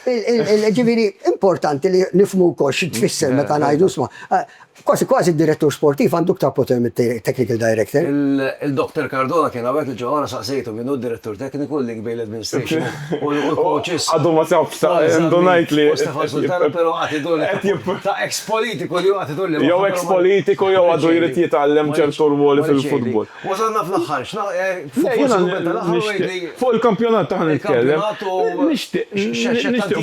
Ġifieri importanti li nifhmu wkoll xi tfisser meta ngħidu sma. Kważi kważi d-direttur sportiv għandu iktar poter mit-technical director. Il-Doktor Cardona kien hawnhekk il-ġimgħa l-oħra saqsejtu min hu d-direttur tekniku, il-link bejn l-administration u l-coaches. Għadu ma sabx, ta' indunajt li. U Stefan Sultana però għad idur li ta' ex politiku li hu għad idur li. Jew ex politiku jew għadu jrid jitgħallem ċertu rwoli fil-futbol. Wasalna fl-aħħar, forsi kumment tal-aħħar u għidli. Fuq il-kampjonat aħna nitkellem. Nixtieq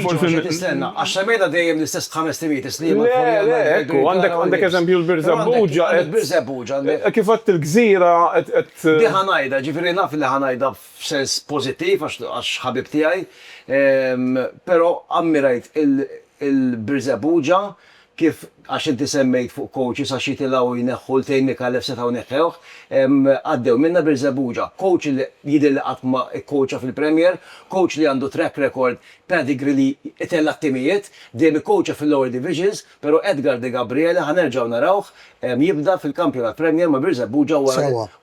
forsi nixtieq tistenna. Għax semmejna dejjem l-istess b'ħames timijiet is-snin ma' Korea. Le, le, ekku, għandek eżempju l-Birżebbuġa. Il-Birżebbuġa għandek. Kif għedt il-Gżira qed. Di ħa ngħidha, ġifieri naf li ħa ngħidha f'sens pożittiv għax ħabib tiegħi, però ammirajt il-Birżebbuġa kif għax inti semmejt fuq coaches għax jitilgħu jneħħu ltejn Micallef setgħu neħħewh, għaddew minnha Birżebbuġa. Coach li jidher li qatt ma kkoċja fil-Premier, coach li għandu track record, pedigree li itella' t-timijiet, dejjem ikkoċja fil-lower divisions, però Edgar Degabriele ħa nerġgħu narawh jibda fil-Kampjonat Premier ma' Birżebbuġa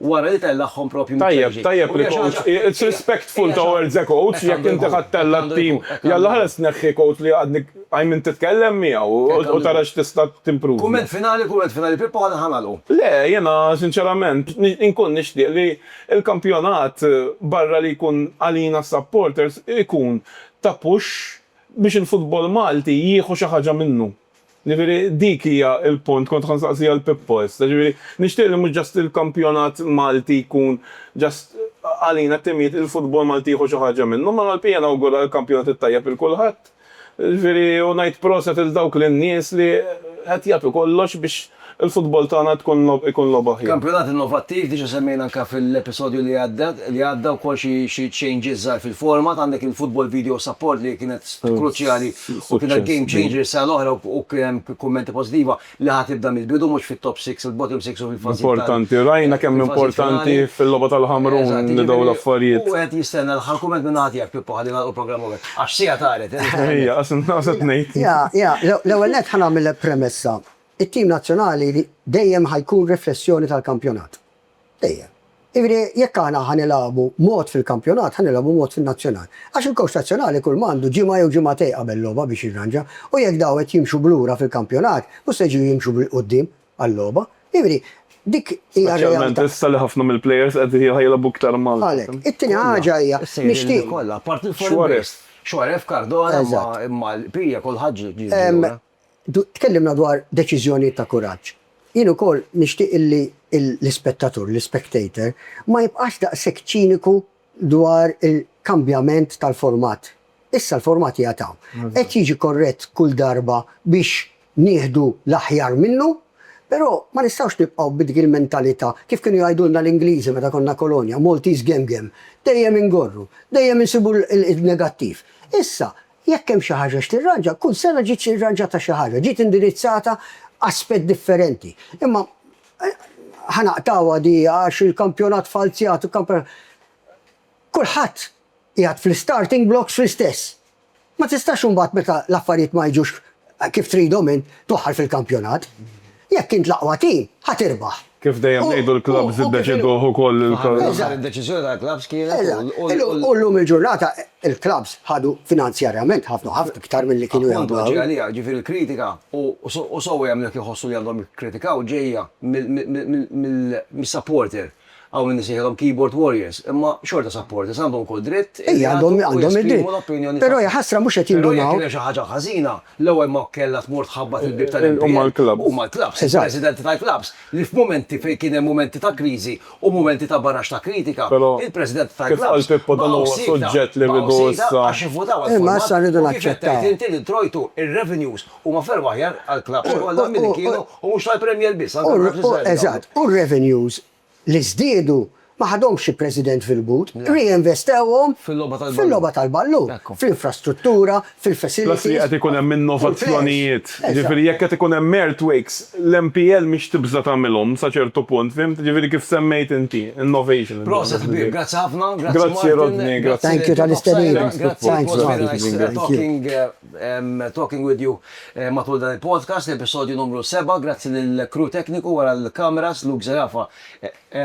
wara li tellagħhom propju minn Serie G. Tajjeb, tajjeb il-coach, it's respectful towards a coach, jekk inti ħadd tella' t-tim, jalla ħares tneħħi coach li għadni qajmimt titkellem miegħu u tara x'tista' timprovja. Kumment finali, kumment finali Pippo aħna ħa nagħlqu. Le, jiena sinċerament inkun nixtieq li l-kampjonat barra li jkun għalina s-supporters ikun ta' push biex il-futbol Malti jieħu xi ħaġa minnu. Ġifieri dik hija l-punt, kont ħa nsaqsi għal Pippo issa. Ġifieri nixtieq li mhux just il-kampjonat Malti jkun just għalina t-timijiet, il-futbol Malti jieħu xi ħaġa minnu, imma Malpija nawgura l-kampjonat it-tajjeb lil kulħadd. Ġifieri u ngħid proset lil dawk lin-nies li qed jagħtu kollox biex il-futbol tagħna tkun logħba ikun logħba aħjar. Kampjonat innovattiv, diġa semmejna anka fil-episodju li għadda, li għadda wkoll xi xi changes żgħar fil-format, għandek il-Football Video Support li kienet kruċjali u kienet game changer is-sena l-oħra u u kien hemm kummenti pożittiva li ħa tibda mill-bidu mhux fit-top six, il-bottom six u fil-fażijiet tal-. Importanti, rajna kemm importanti fil-logħba tal-Ħamrun li dawn l-affarijiet. Eżatt, jiġifieri u wieħed jistenna l-aħħar kumment minn naħa tiegħek Pippo ħalli nagħlqu l-programm hawnhekk, għax siegħa taret. Ejja, għax inħossha tnejn. Ja, ja, l-ewwel nett ħa nagħmillek premessa. It-tim nazzjonali dejjem ħa jkun riflessjoni tal-kampjonat. Dejjem. Jiġifieri jekk aħna ħa nilagħbu mod fil-kampjonat ħa nilagħbu mod fin-nazzjonal. Għax il-kowċ nazzjonali kull ma għandu ġimgħa jew ġimgħatej qabel logħba biex jirranġa u jekk daw qed jimxu b'lura fil-kampjonat mhux se jġu jimxu bil-quddiem għal-logħba. Jiġifieri dik hija r-realtà. Speċjalment issa li ħafna mill-plejers qed jilagħbu iktar mal. Għalhekk. It-tieni ħaġa hija nixtieq. Kollha, apart il-foreign base. Xuarez. Xuarez, Cardona imma l-bqija kulħadd ġie lura. Tkellimna dwar deċiżjonijiet ta' kuraġġ. Jien ukoll nixtieq li l-ispettatur, l-ispectator, ma jibqax daqshekk ċiniku dwar il-kambjament tal-format. Issa l-format qiegħed hawn. Qed jiġi korrett kull darba biex nieħdu l-aħjar minnu, però ma nistgħux nibqgħu b'dik il-mentalità, kif kienu jgħidulna l-Ingliżi meta konna kolonja, Maltese gem gem. Dejjem ingorru, dejjem insibu n-negattiv. Issa, Jekk hemm xi ħaġa x'tirranġa, kull sena ġiet irranġata xi ħaġa, ġiet indirizzata aspett differenti. Imma ħa naqtgħuha di għax il-kampjonat falzjat, il-kampjonat. Kulħadd qiegħed fl-istarting blocks fl-istess. Ma tistax imbagħad meta l-affarijiet ma jiġux Kif tridhom int toħħar fil-kampjonat? Jekk int l-aqwa tim, ħa tirbaħ. Kif dejjem ngħidu l-klabbs iddeċiduh ukoll il-. Fl-aħħar mill-aħħar id-deċiżjoni tal-klabbs kienet u. U llum il-ġurnata il-klabbs ħadu finanzjarjament ħafna ħafna iktar milli kienu jagħmlu. Appuntu, ġej għaliha, ġifieri l-kritika, u sewwa jagħmlu jekk iħossu li għandhom jikkritikaw, ġejja mis-supporter. Hawn min isejħilhom keyboard warriors, imma xorta supporters, għandhom ukoll dritt li jagħtu u jesprimu l-opinjoni tagħhom. Però hija ħasra mhux qed jindunaw. Però jekk kien hemm xi ħaġa ħażina, l-ewwel ma kellha tmur tħabbat il-bieb tal-MPL, huma l-klabbs, il-presidenti tal-klabbs, li f'mumenti fejn kien hemm mumenti ta' kriżi u mumenti ta' baraxx ta' kritika, il-presidenti tal-klabbs baqgħu siekta, baqgħu siekta għax ivvutaw għal format u kif qed tgħid inti li ntrojtu r-revenues Huma ferm aħjar għall-klabbs kollha milli kienu u mhux tal-Premier biss, anke għall-klabbs iżgħar. Eżatt. U r-revenues li żdiedu ma ħadhomx xi president fil-but, reinvestewhom fil-logħba tal-ballun, fl-infrastruttura, fil-facilities. Plus li qed ikun hemm innovazzjonijiet. Jiġifieri jekk qed ikun hemm earthquakes, l-MPL mhix tibża' tagħmilhom sa ċertu punt, fihimt? Jiġifieri kif semmejt inti, innovation. Proset ħbieb, grazzi ħafna. Grazzi Martin. Grazzi Rodney. Grazzi lil Thank you tal-istedina. Grazzi. It was very nice talking. Talking with you matul dan il-podcast, l-episodju numru seba', grazzi lill-crew tekniku wara l-kameras, Luke Zerafa,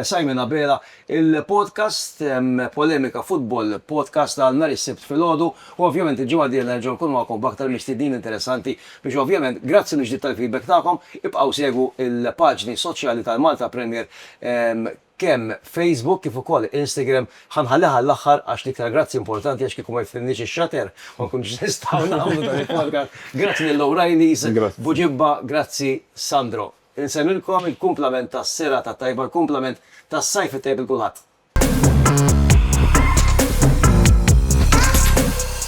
Simon Abela. Il-podcast Polemika Football, podcast għal nhar is-Sibt filgħodu, u ovvjament il-ġimgħa d-dieħla nerġgħu nkunu magħkom b'aktar mistednin interessanti biex ovvjament, grazzi mill-ġdid tal-feedback tagħkom, ibqgħu segwu l-paġni soċjali tal-Malta Premier. kemm Facebook kif ukoll Instagram ħa nħalliha għall-aħħar għax l-iktar grazzi importanti għax kieku ma jifhimniex ix-shutter ma nkunux nistgħu nagħmlu dan il-podcast. Grazzi lil O'Reilly's B'Bu Ġibba, grazzi Sandro. Insemmilkom il-kumplament tas-serata t-tajba, l-kumplament tas-sajf it-tajb 'il kulħadd.